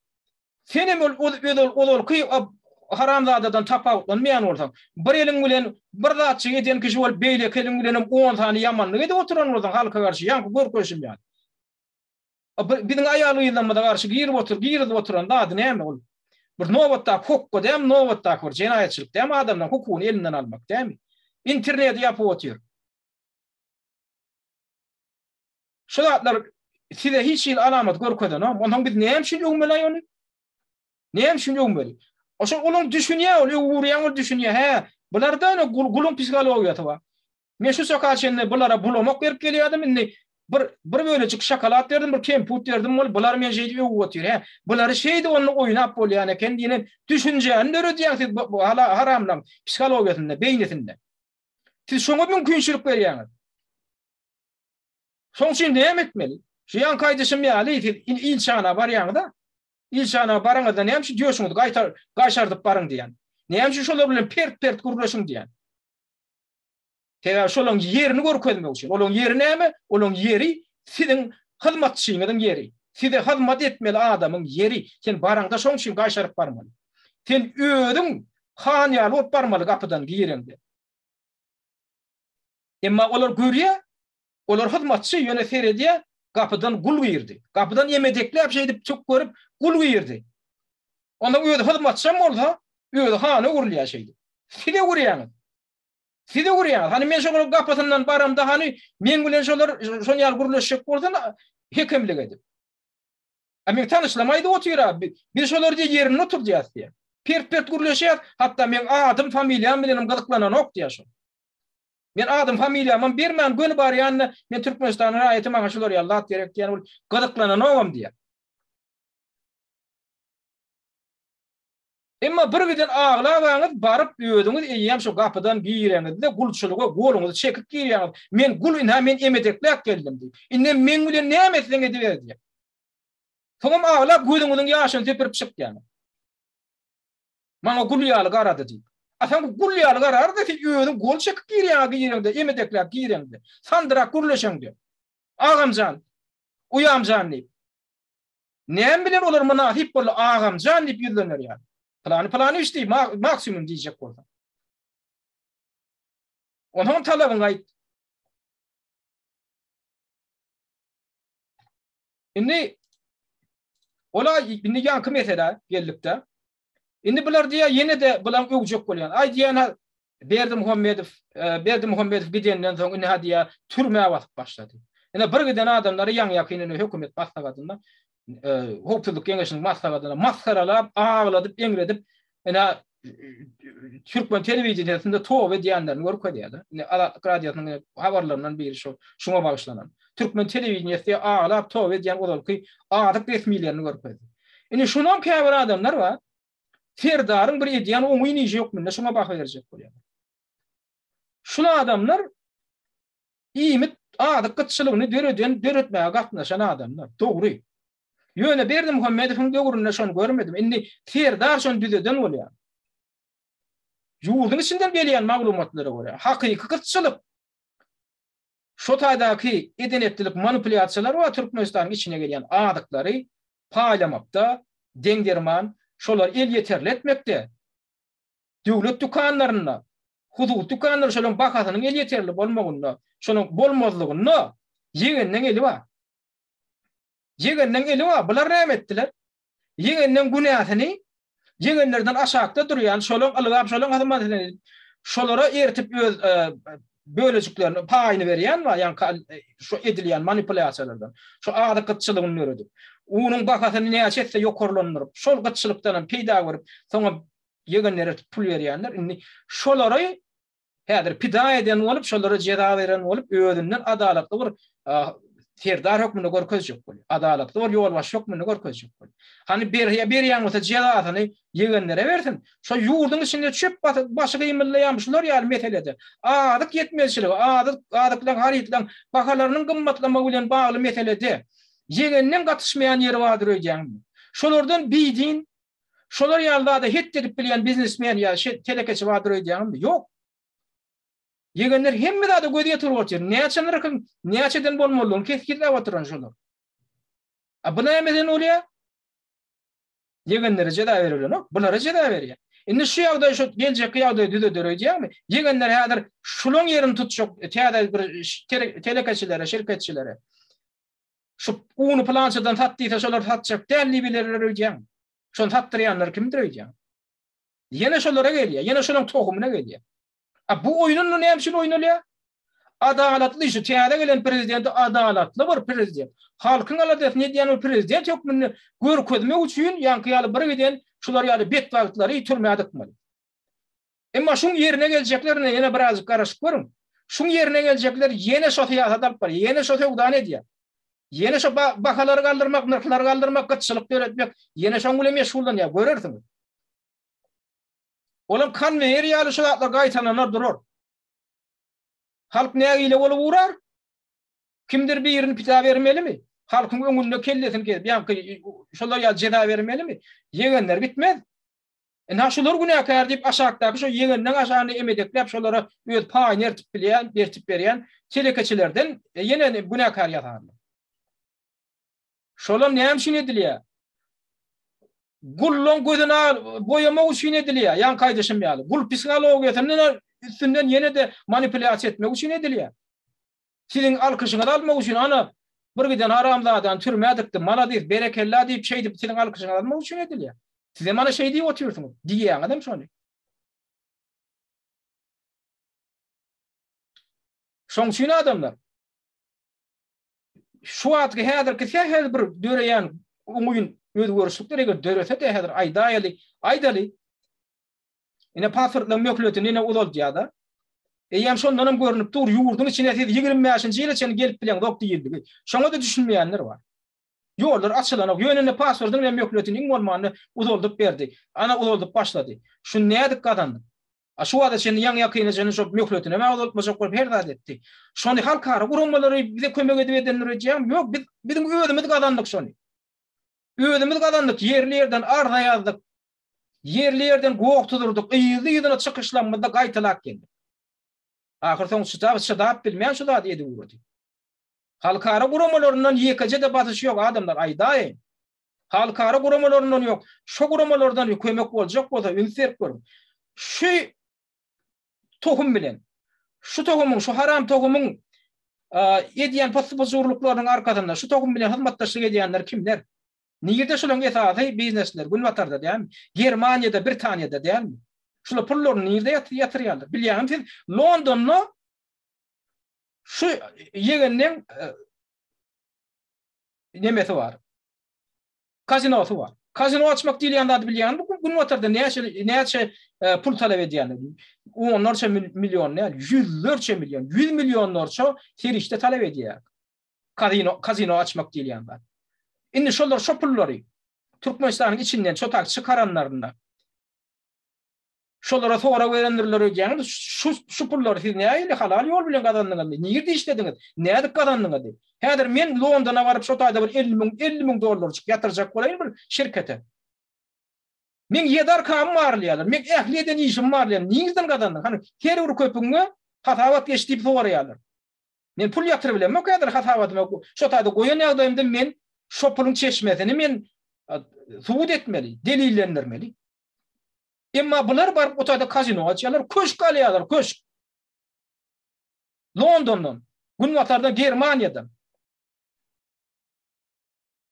sen hem ol öz ozalky haramzadadan tapawutlanmaýan bolsaň, bir eliň bilen bir zatçy eden kişi bolup, beýleki eliň bilen hem on sany ýamanlyk edip oturan bolsaň, halka garşy ýaňky görkezişim ýaly. Biziň aýal-gyzlarymyza garşy girip otur, girizip oturan zady näme ol? Bir nobatdaky hokga dämi, nobatdaky bir jenaýatçylyk dämi adamlaryň hukugyny elinden almak dämi? Internedi ýapyp otyr. Şu zatlar size hiç hili alamat görkezenokmy? Onsoň biz näme üçin öwmeli-aý ony? Näme üçin öwmeli? Oşol olaň düşünýä ol öwürýän ol düşünýä. Hä, bularda ene guluň psihologiýasy bar. Men şu soka çenli bulara bulamak berip gelýärdim, indi bir bir bölejik şokolad berdim, bir kemput berdim, bul bular meni şeýdip öwüp otyr, hä. Bulary şeýdip onda oýnap bolýan eken diýen düşünjäni döredýäň siz bu bu hala haramlaň psihologiýasynda, beýnisinde. Siz şoňa mümkinçilik berýäňiz. Şoň üçin näme etmeli? Şu ýanky aýdyşym ýaly siz il ilçana barýaňyz-a. Ilçana baryňyzda näme üçin döşüňizi gaýtar gaýşardyp baryň diýýän. Näme üçin şolar bilen pert-pert gürleşiň diýýän. Sebäbi şolaň ýerini görkezmek üçin. Olaň ýeri näme? Olaň ýeri siziň hyzmatçyňyzyň ýeri. Size hyzmat etmeli adamyň ýeri. Sen baraňda şoň üçin gaýşaryp barmaly. Sen özüň han ýaly bolup barmaly gapydan gireňde. Emma olar görýär, Olar hyzmatçy, ýöne seredýä, gapydan gul girdi. Gapydan emedekläp şeýdip çuk görüp, gul girdi. Onda özi hyzmatçam bolsa, özi hana öwrülýä şeýdip. Siz öwürýäňiz. Siz öwürýäňiz. Hany men şolaryň gapysyndan baramda hany men bilen şolar şon ýaly gürleşjek bolsun hekemlik edip. A men tanyşlam aýdyp otyra, biz şolar diýe ýerinde oturdýas diýe. Pert-pert gürleşýäs, hatda men adym, familiýam bilenem gyzyklananok diýe şo. Men adym familiýamam bermän göni barýanda men Türkmenistanyň raýaty maňa şular ýaly zat gerek diýýän ol gyzyklananogam diýýär. Emma bir giden aglabaňyz baryp özüňiz eýýäm şu gapydan gireňizde gulçulyga goluňyzy çekip girýäňiz. Men gul ynha men emedekläp geldim diýip. Indem meň bilen näme etseň ediber diýýär. Soňam aglap gözüňiziň ýaşyny süpürip çykýaňyz. Maňa gul ýaly garady diýip. A sen gul ýaly gararda sen özüň gol çekip girýäňä gireňde, emedekläp gireňde, sandyrak gürleşeňde. Agamjan, uýamjan diýip. Näme bilen olar mynasyp boldy agamjan diýip ýüzlener ýaly. Pylany pylany iş diýip maksimum diýjek bolsa. Onuň talabyny aýt. Indi ola indi ýaňky meselä geldikde, Indi bular diýýär, ýene-de bulam öwjek bolýan. Aý diýýän-ä Berdimuhammedow, Berdimuhammedow gidenden soň indi ha diýýär, türmä basyp başlady. Ine bir giden adamlary ýaňy-ýakyn indi hökümet maslahatynda, Howpsuzlyk geňeşiniň maslahatynda masgaralap, agladyp, eňredip, ine türkmen telewideniýesinde toba edýänlerini görkezýärler. Indi Azatlyk radiosynyň habarlaryndan biri şu, şuňa bagyşlanan. Türkmen telewideniýesi aglap toba edýän ozalky azyk resmilerini görkezdi. Indi şonam käbir adamlar bar. Serdaryň bir edýän oňyn işi hökmünde şoňa baha berjek bolýarlar. Şul adamlar iýmit azyk gytçylygyny döreden, döretmäge gatnaşan adamlar. Dogry. Ýöne Berdimuhamedowyň döwründe şony görmedim. Indi Serdar şony düzeden bolýar. Ýurduň içinden gelýän maglumatlara görä, hakyky gytçylyk Şo taýdaky eden-etdilik manipulýasiýalar bar Türkmenistanyň içine gelýän azyklary paýlamakda, deň-derman, şolary elýeterli etmekde, döwlet dükanlarynda, hususy dükanlar şolaryň bahasynyň elýeterli bolmagynda, şonuň bolmazlygynda ýegeniň eli bar. Ýegeniň eli bar. Bular näme etdiler? Ýeňeniň günäsini ýeňenlerden aşakda dur, ýagny şolaň ylgap, şolaň hyzmatyny edip, şolara eritip öz bölejiklerini, paýyny berýän bar, ýagny şu edilýän manipulýasiýalardan, şu azyk gytçylygyny döredip, unuň bahasyny näçe esse ýokarlandyryp, şol gytçylykdan hem peýda görüp, soňam ýegenlere pul berýänler, indi şolary Häzir pida eden bolup, şolara jeza beren bolup, özünden adalatly bir serdar hökmünde görkezjek bol. Adalatly bol ýolbaşçy hökmünde görkezjek bol. Hany berýä berýän bolsa jezasyny ýegenlere bersin. Şo ýurduň içinde çöp batyp başy gymyldaýan şular ýaly meselede azyk ýetmezçiligi, azyk azyklaryň harytlaryň bahalarynyň gymmatlamagy bilen bagly meselede ýegenden gatyşmaýan ýeri bardyr öýdýäňmi? Şolardan bidin Şolar ýaly zada het edip bilýän biznesmen ýa telekeçi bardyr öýdýäňizmi? Ýok. Ýegenler hemme zada göz ýetirip otyr. Näçe nyrhyň näçeden bolmalydygyny kesgitläp oturan şolar. A bu nämeden bolýar? Ýegenlere jeza berilenok, bulara jeza berýär. Indi şu ýagdaý şu geljekki ýagdaýy düzeder öýdýäňmi? Ýegenler häzir şulaň ýerini tutjak täze bir telekeçilere, şirketçilere. Şu uny pylançadan sat diýse şolar satjak däl diýip ilerler öýdýäň. Şony satdyrýanlar kimdir öýdýäň. Ýene şolara gelýär, ýene şolaryň tohumyna gelýär. A bu oýun indi näme üçin oýnalýar? Adalatly şu täze gelen prezidenti adalatly bir prezident. Halkyň aladasyny edýän bir prezident hökmünde görkezmek üçin ýaňky ýaly bir giden şular ýaly betbagtlary türmä dykmaly. Emma şuň ýerine geljeklerine ýene birazjyk garaşyp görüň. Şuň ýerine geljekler ýene şo syýasaty alyp barýar, ýene şo söwdany edýär. Ýene şo bahalary galdyrmak, nyrhlary galdyrmak, gytçylyk döretmek, ýene şoň bilen meşgullanýar, görersiňiz. Olaň konweýer ýaly şu zatlar gaýtalanar durar. Halk nägile bolup ugrar? Kimdir birini pida bermelimi? Halkyň öňünde kellesini kesip, ýaňky şolar ýaly jeza bermelimi? Ýegenler gitmez. Ynha şular günäkär diýip aşakdaky şo ýegenden aşagyny emedekläp şolara öz paýyny ertip bilýän, bertip berýän telekeçilerden ýene günäkär ýasarlar. Şolar näme üçin edilýär? Gulluň gözüni boýamak üçin edilýär, ýaňky aýdyşym ýaly. Gul psihologiýasyny üstünden ýene-de manipulýasiýa etmek üçin edilýär. Siziň alkyşyňyzy almak üçin ana bir giden haramzadany türmä dykdym, maladis, berekella diýip şeýdip siziň alkyşyňyzy almak üçin edilýär. Sizem ana şeý diýip otyrsyňyz, diýýäňizem şony. Şoň üçin adamlar şu wagtky häzirki sähel bir döreýän oňyn özgerişlikler eger dörese-de häzir aýdaýaly, aýdaly. Ine pasportlaryň möhletini ine uzaldýar-da. Eýýäm şondanam görnüp dur, ýurduň içine siz ýigrimi bäşinji ýyla çenli gelip bileňzok diýildigi. Şoňa-da düşünmeýänler bar. Ýollar açylanok. Ýöne indi pasportyň hem möhletini iň bolmanda uzaldyp berdi. Ana uzaldyp başlady. Şuny nädip gazandyk? A şu wagta çenli ýaňy-ýakynda çenli şo möhletinem-ä uzaltmajak bolup her zat etdi. Şony halkara guramalary bize kömek edip edendir öýdýäňmi? Ýok, biz biziň özümiz gazandyk şony. Özümiz gazandyk, ýerli ýerden arza ýazdyk. Ýerli-ýerden goh tuzurdyk, yzly-yzyna çykyşlarymyzda gaýtalap geldik. Ahyrsoňy çydaby çydap bilmän şu zady edip ugradyk. Halkara guramalaryndan ýekeje-de basyş ýok, adamlar, aýdaýyn. Halkara guramalaryndan ýok. Şu guramalardan kömek boljak bolsa üns berip görüň. Şu tohum bilen, şu tohumyň, şu haram tohumyň edýän pysy-pyjurlyklarynyň arkasynda şu tohum bilen hyzmatdaşlyk edýänler kimler? Nirde şularyň esasy biznesleri günbatarda dälmi? Germaniýada, Britaniýada dälmi? Şular pullaryny nirde ýatyrýarlar? Bilýäňmi siz Londonda şu ýegenleň nemesi bar. Kazinosy bar. Kazino açmak diýilýän zady bilýäňmi? Bu günbatarda näçe näçe pul talap edýärler? Onlarça million däl, ýüzlerçe million, ýüz millionlarça serişde talap edýär. Kazino, kazino açmak diýilýän zat. Indi şolar şo pullary Türkmenistanyň içinden çotak çykaranlarynda şolara sorag berendirler öýdýäňiz, şu şu pullary siz nähili halal ýol bilen gazandyňyzmy? Nirde işlediňiz? Nädip gazandyňyz? Häzir men Londona baryp şo taýda bir 50 müň, 50 müň dollar çyk ýatyrjak bolaýyn bir şirkete. Men ýedi arkamy barlaýarlar. Men ähli eden işimi barlaýarlar. Nirden gazandyň? Hany her bir köpüňe hasabat geç diýip soraýarlar. Men pul ýatyrybilemok häzir hasabadyma şo taýda goýan ýagdaýymda men şo puluň çeşmesini men subut etmeli, delillendirmeli. Emma bular baryp o taýda kazino açýarlar, köşk alýarlar, köşk. Londondan, Günbatardan, Germaniýadan.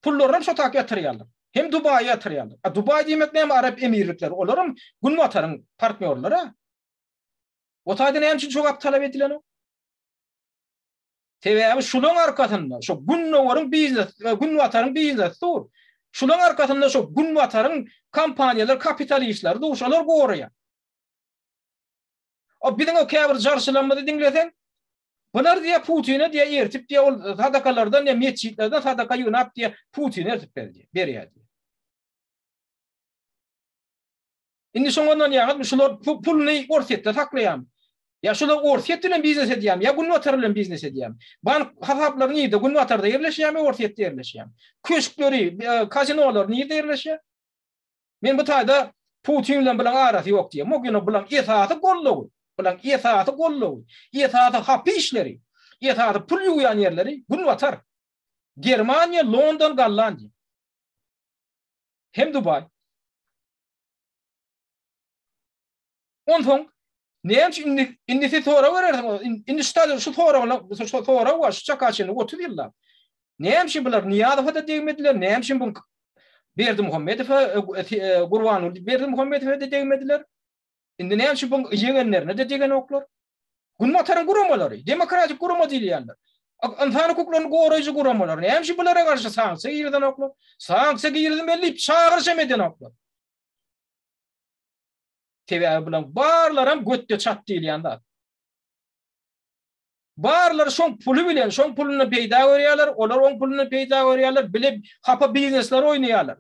Pullaryny şo taýda ýatyrýarlar. Hem Dubaýa ýatyrýarlar. A Dubaý diýmek näme? Arap Emirlikleri. Olaram Günbataryň partnýorlary. O taýda näme üçin jogap talap edilenok? Sebäbi şulaň arkasynda şu Gündogaryň biznes, Günbataryň biznesi dur. Şulaň arkasynda şu Günbataryň kompaniýalar kapitalistleri dur, şolar goraýar. O biziň o käbir jarşylarymyzy diňleseň, bular diýe Putine diýe ertip diýe ol sadakalardan diýe metjitlerden sadaka ýygnap diýe Putine ertip berýär. Indi şoňa ynanýaňyzmy? Şular puluny Orsýetde saklaýarmy? Ýa şular Orsýet bilen biznes edýärmi? Ýa Günbatar bilen biznes edýärmi? Bank hasaplary nirde? Günbatarda ýerleşýärmi, Orsýetde ýerleşýärmi? Köşkleri, kazinolary nirde ýerleşýär? Men bu taýda Putin bilen bilen arasy ýok diýýän. Ýok, ýöne bilen esasy gollugy, bilen esasy gollugy, esasy hapy işleri, esasy pul ýuwýan ýerleri Günbatar. Germaniýa, London, Gollandiýa. Hem Dubaý. Onsoň näme üçin indi indi siz sorag berersiňiz? Indi şu taýda şu soragyna şu sorag bar, şu çaka çenli 30 ýyllap. Näme üçin bular Niýazowa-da degmediler, näme üçin bu Berdimuhamedowa, e, e, e, Gurbanguly Berdimuhamedowa-da degmediler? Indi näme üçin bu ýegenlerine-de degenoklar? Günbataryň guramalary, demokratik gurama diýilýänler, ynsan hukuklaryny goraýjy guramalar näme üçin bulara garşy sanksiýa girizenoklar? Sanksiýa girizmeli diýip çagyryş hem edenoklar. Sebäbi bularyň barlary hem götde çat diýilýän zat. Barlary şoň puly bilen, şoň pulundan peýda görýärler, olar oň pulundan peýda görýärler, bile hapa biznesler oýnaýarlar.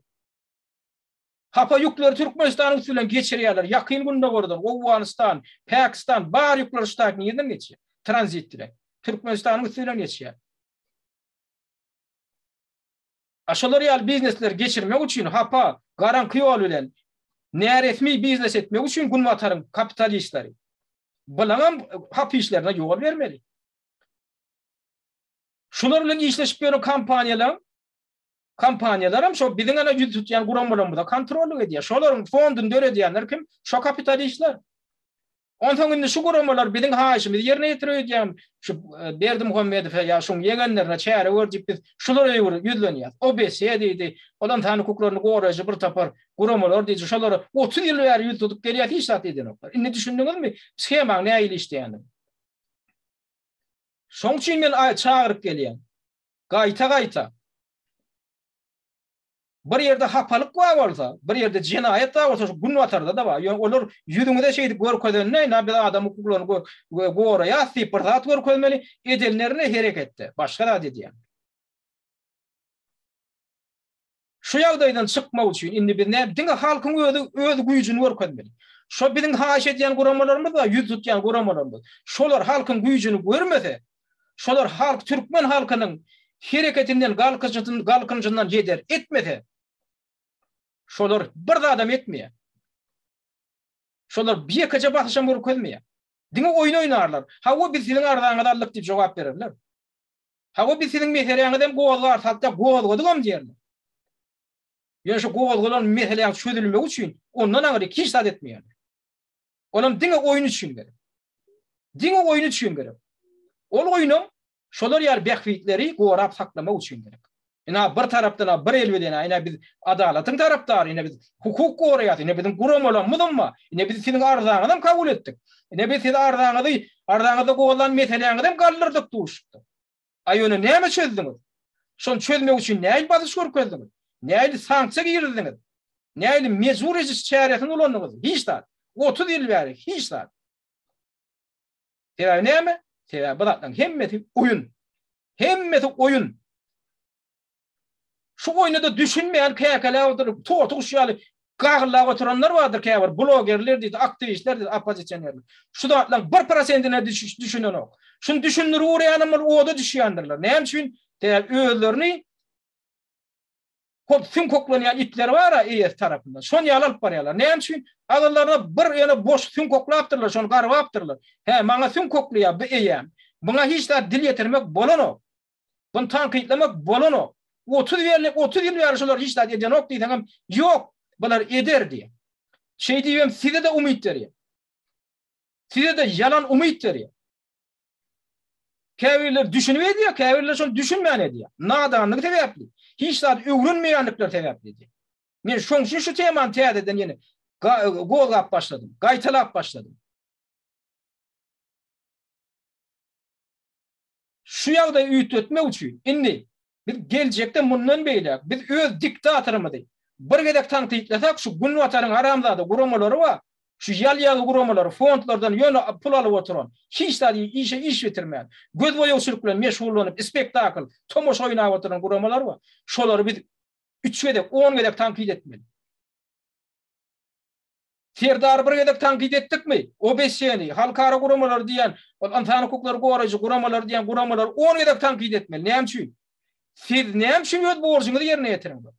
Hapa ýükleri Türkmenistan üstünden geçirýärler, Ýakyn Gündogardan, Owganystan, Pakistan, bar ýükler şu taýyp nirden geçýär? Tranzit bilen. Türkmenistanyň üsti bilen geçýär. A şolar ýaly biznesleri geçirmek üçin hapa, garaňky ýol bilen näresmi biznes etmek üçin Günbataryň kapitalistleri bileňem hap işlerine ýol bermeli. Şular bilen işleşip ýören kompaniýalaryň Kompaniýalaram şo biziň ana ýüz tutýan guramalarymyza kontrollyk edýär. Şolaryň fonduny döredýänler kim? Şo kapitalistler. Onsoň indi şu guramalar biziň haýyşymyzy ýerine ýetirip öýdýärmi? Şu Berdimuhamedowa ýa şuň ýegenlerine çäre gör diýip biz şulara öwrülip ýüzlenýäs. OBS diýdi, ol ynsany hukuklaryny goraýjy bir topar guramalar diýdi, şolara otuz ýyl bäri ýüz tutup gelýäs hiç zat edenoklar. Indi düşündiňizmi shemanyň nähili işleýändigini? Şoň üçin men çagyryp gelýän. gaýta-gaýta bir ýerde hapalyk bar bolsa, bir ýerde jenaýat bar bolsa, şu Günbatarda-da bar. Ýöne olar ýüzüňize şeýdip görkezende, ina biz adam hukuklaryny goraýas diýip bir zat görkezmeli, edenlerini hereketde, başga zat edýär. Şu ýagdaýdan çykmak üçin indi biz näme? Diňe halkyň özi öz güýjüni görkezmeli. Şo biziň haýyş edýän guramalarymyz bar, ýüz tutýan guramalarymyz. Şolar halkyň güýjüni görmese, şolar halk türkmen halkynyň hereketinden galkyjydan galkynjyndan ýeder etmese, şolar bir zadam etmeýär. Şolar biýekeje basyşam görkezmeýär. Diňe oýun oýnarlar. Hawa biz siziň arzaňyzy aldyk diýip jogap bererler. Hawa biz siziň meseläňizem gozgarys hatda gozgadygam diýerler. Ýöne şu gozgalan meseläň çözülmegi üçin ondan aňryk hiç zat etmeýärler. Olam diňe oýun üçin gerek. Diňe oýun üçin gerek. Ol oýunam şolar ýaly bähbitleri gorap saklamak üçin gerek. Ina bir tarapdan-a bir elbedena ina biz adalatyň tarapdary, ina biz hukuk goraýas, ina biziň guramalarymyzam bar, ina biz siziň arzaňyzam kabul etdik. Ina biz size arzaňyzy, arzaňyzda gozalan meseläňizem galdyrdyk duşupda. A ýöne näme çözdüňiz? Şony çözmek üçin nähili basyş görkezdiňiz? Nähili sanksiýa girizdiňiz? Nähili mejbur ediş çäresini ulandyňyz? Hiç zat. Otuz ýyl bäri hiç zat. Sebäbi näme? Sebäbi bu zatlaryň hemmesi oýun. Hemmesi oýun. Şu oýuna-da düşünmeýän käkeler oturyp, torty guş ýaly gagylap oturanlar bardyr käbir blogerler diýdi, aktiwistler diýdi, oppozisionerler. Şu zatlaryň 1%-ne düşünenok. Şuny düşündirip urýanam ol oda düşýändirler. Näme üçin? Sebäbi özlerini kod süňk oklanýan itler bar-a eýesi tarapyndan. Şon ýaly alyp barýarlar. Näme üçin? Agzylaryna bir ýöne boş süňk oklapdyrlar, şony garbapdyrlar. Hä, maňa süňk oklaýar bu eýäm. Buňa hiç zat dil ýetirmek bolanok. Buny tankytlamak bolanok. Otuz ýyllyk, otuz ýyl bäri şular hiç zat edenok diýseňem, ýok, bular eder diýýär. Şeý diýibem size-de umyt berýär. Size-de ýalan umyt berýär. Käbirleri düşünip edýär, käbirleri şony düşünmän edýär. Nadanlygy sebäpli, hiç zat öwrenmeýändikleri sebäpli diýip. Men şoň üçin şu temany täzeden ýene gozgap başladym, gaýtalap başladym. Şu ýagdaýy üýtgetmek üçin indi Biz geljekde mundan beýläk biz öz diktatorymyzy bir gezek tankytlasak şu Günbataryň haramzada guramalary bar, şu ýal-ýagy guramalary fondlardan ýöne pul alyp oturan, hiç zat işe iş bitirmän, gözboýagçylyk bilen meşgullanyp ispektakl, tomaşa oýnap oturan guramalar bar. Şolary biz üç gezek, on gezek tankyt etmeli. Serdary bir gezek tankyt etdikmi? OBSE-ni, halkara guramalary diýen, ol ynsan hukuklary goraýjy guramalary diýen guramalary on gezek tankyt etmeli. Näme üçin? Siz näme üçin öz borjuňyzy ýerine ýetiriňzok?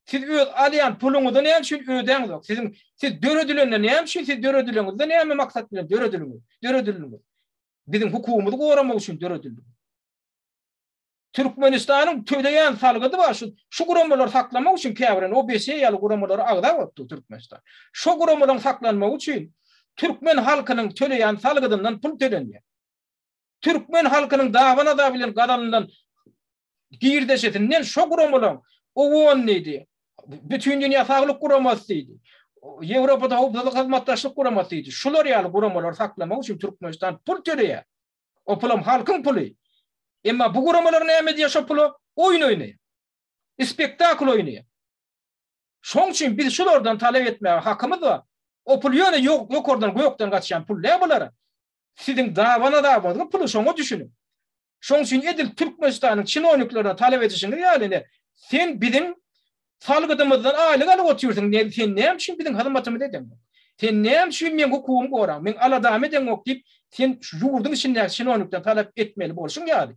Siz öz alýan puluňyzy näme üçin ödäňzok? Siziň siz döredilende näme üçin siz döredileňizde näme maksat bilen dörediliňiz? Döredildiňiz. Biziň hukugymyzy goramak üçin döredildiňiz. Türkmenistanyň töleýän salgydy bar şu şu guramalary saklamak üçin käbirini OBSE ýaly guramalara agza bolupdyr Türkmenistan. Şo guramalaryň saklanmagy üçin türkmen halkynyň töleýän salgydyndan pul tölenýär. Türkmen halkynyň daban aza bilen gazanylan girdeşisinden şo guramalaryň OON diýdi. Bütün dünýä saglyk guramasy diýdi. Ýewropada howpsuzlyk hyzmatdaşlyk guramasy diýdi. Şular ýaly guramalary saklamak üçin Türkmenistan pul töleýär. O pulam halkyň puly. Emma bu guramalar näme edýär şo pula? Oýun oýnaýar. Spektakl oýnaýar. Şoň üçin biz şulardan talap etmäge hakymyz bar. O pul ýöne ýok, ýokardan gökden gaçýan pul däl bular. Siziň dabana dabanyň puly şoňa düşüniň. Şoň üçin edil Türkmenistanyň çinoniklerine talap edişiňiz ýaly indi sen biziň Salgydymyzdan aýlyk alyp otyrsyň, neg sen näme üçin biziň hyzmatymyzy edeňok? Sen näme üçin meň hukugymy goraň, meň aladamy edeňok diýip, sen şu ýurduň içindäki çinownikden talap etmeli bolşuň ýaly,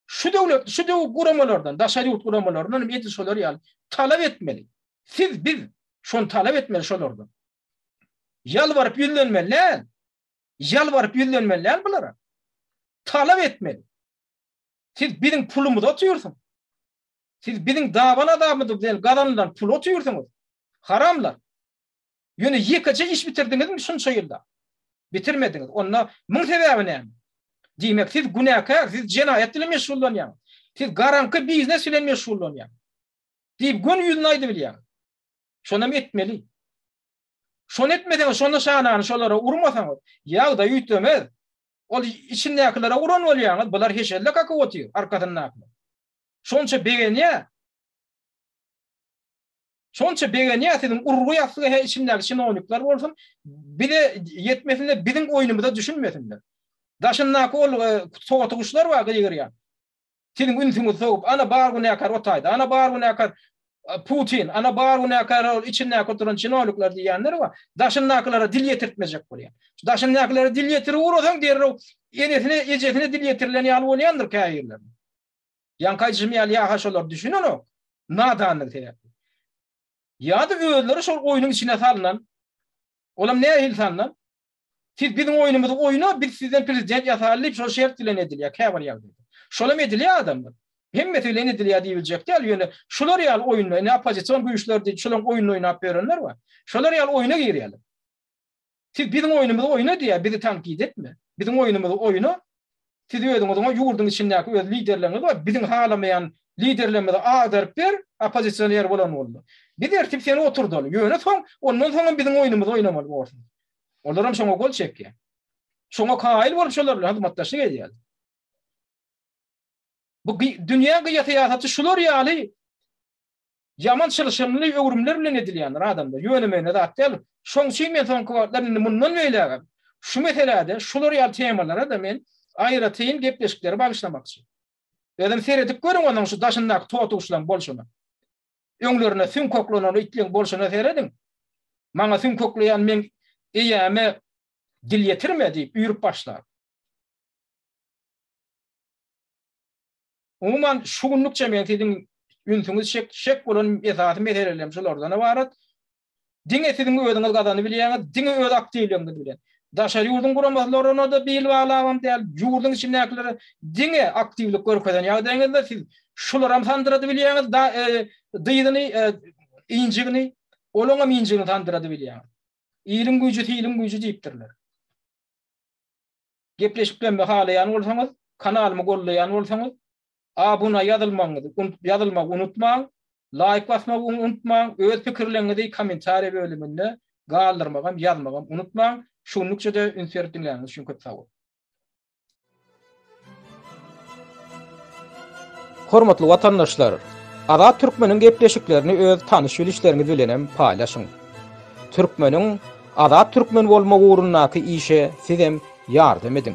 şu döwlet, şu döw guramalardan, daşary ýurt guramalaryndan hem edil şolar ýaly talap etmeli. Siz, biz şony talap etmeli şolardan. Ýalbaryp ýüzlenmeli däl. Ýalbaryp ýüzlenmeli däl bulara. Talap etmeli. Siz biziň pulumyzy otyrsyň. Siz biziň daban azabymyzy bilen gazanylan puly otyrsyňyz. Haramlar! Ýöne ýekeje iş bitirdiňizmi şunça ýylda? Bitirmediňiz. Onda muň sebäbi näme? Diýmek, siz günäkär, siz jenaýat bilen meşgullanýaňyz. Siz garaňky biznes bilen meşgullanýaňyz. Diýip göni ýüzüne aýdybilýäňiz. Şonam etmeli. Şony etmeseňiz, şonda şanany şolara urmasaňyz, ýagdaý üýtgemez. Ol içindäkilere uran bolýaňyz, bular heşelle kakyp otyr, arkasyndakylar. Şonça begenýä. Şonça begenýä siziň urgy ýassyga he içindäki çinonikler bolsun. Bize ýetmesinler biziň oýnumyza düşünmesinler. Daşyndaky ol sogaty guşlar bar gygyrýan. Siziň ünsüňizi sogup ana bar günäkar o taýda. Ana bar günäkar Putin, ana bar günäkar ol içindäki oturan çinonikler diýýänler bar. Daşyndakylara dil ýetirtmejek bolýar. Şu daşyndakylara dil ýetirip ugrasaň derrew enesine ejesine dil ýetirilen ýaly bolýandyr käbirleri. Ýaňky aýdyşym ýaly ýa-ha şolar düşünenok, nadanlygy sebäpli. Ýa-da özleri şol oýnuň içine salnan, olam nähili salnan, siz biziň oýnumyzy oýna, biz sizden prezident ýasaly diýip şol şert bilen edilýär käbir ýagdaýda. Şolam edilýär adamlar. Hemmesi bilen edilýär diýibiljek däl, ýöne şular ýaly oýunda, indi oppozision güýçler diýip şolaryň oýnuny oýnap ýörenler bar. Şolar ýaly oýna girýärler. Siz biziň oýnumyzy oýna diýýär, bizi tankyt etme. Biziň oýnumyzy oýna. Siz özüňiziň o ýurduň içindäki öz liderleriňiz bar, biziň halamaýan liderlerimizi agdaryp ber, oppozisioner bolan boldy. Biz ertip seni oturdaly. Ýöne soň, ondan soňam biziň oýnumyzy oýnamaly borsuň. Olaram şoňa gol çekýär. Şoňa kaýyl bolup şolar bilen hyzmatdaşlyk edýärler. Bu dünýä gyýasyýasaty şular ýaly Ýaman çylşyrymly öwrümler bilen edilýändir adamda, ýönemegine zat däl. Şoň üçin men soňky wagtlar indi mundan beýlägem şu meseläde şular ýaly temalara-da men aýratyn gepleşikleri bagyşlamakçy. Özem seredip görüň onuň şu daşyndaky totuşlaň bolşuna. Öňlerine süňkoklan ol itleň bolşuna serediň. Maňa süňkoklaýan meň eýäme dil ýetirme diýip üýrüp başlar. Umuman, şu günlük çemen siziň ünsüňiz şek, şek bolan esasy meselelem şulardan ybarat. Diňe siziň özüňiz gazanyp bilýäňiz, diňe öz aktiwligiňiz bilen. Daşary ýurduň guramaslaryna-da bil baglabam däl, ýurduň içindäkilere diňe aktiwlik görkezen ýagdaýyňyzda siz şularam sandyradyp bilýäňiz, da, e, dyzyny, e, injigini, olaňam injigini sandyradyp bilýäňiz. Iliň güýji, siliň güýji diýipdirler. Gepleşip bilmegi halaýan bolsaňyz, kanalymy goldaýan bolsaňyz, Abuna ýazylmagyňyzy unutyp ýazylmagy unutmaň, Laýk basmagy unutmaň, öz pikirleňňizi kommentariýa bölüminde galdyrmagam ýazmagam unutmaň, şu günlükçede üns berip diňläniňiz üçin köp sag boluň. Hormatly watandaşlar! Azat Türkmeniň gepleşiklerini öz tanyş-bilişleriňiz bilenem paýlaşyň. Türkmeniň Azat Türkmen bolmagy ugrundaky işe sizem ýardam ediň!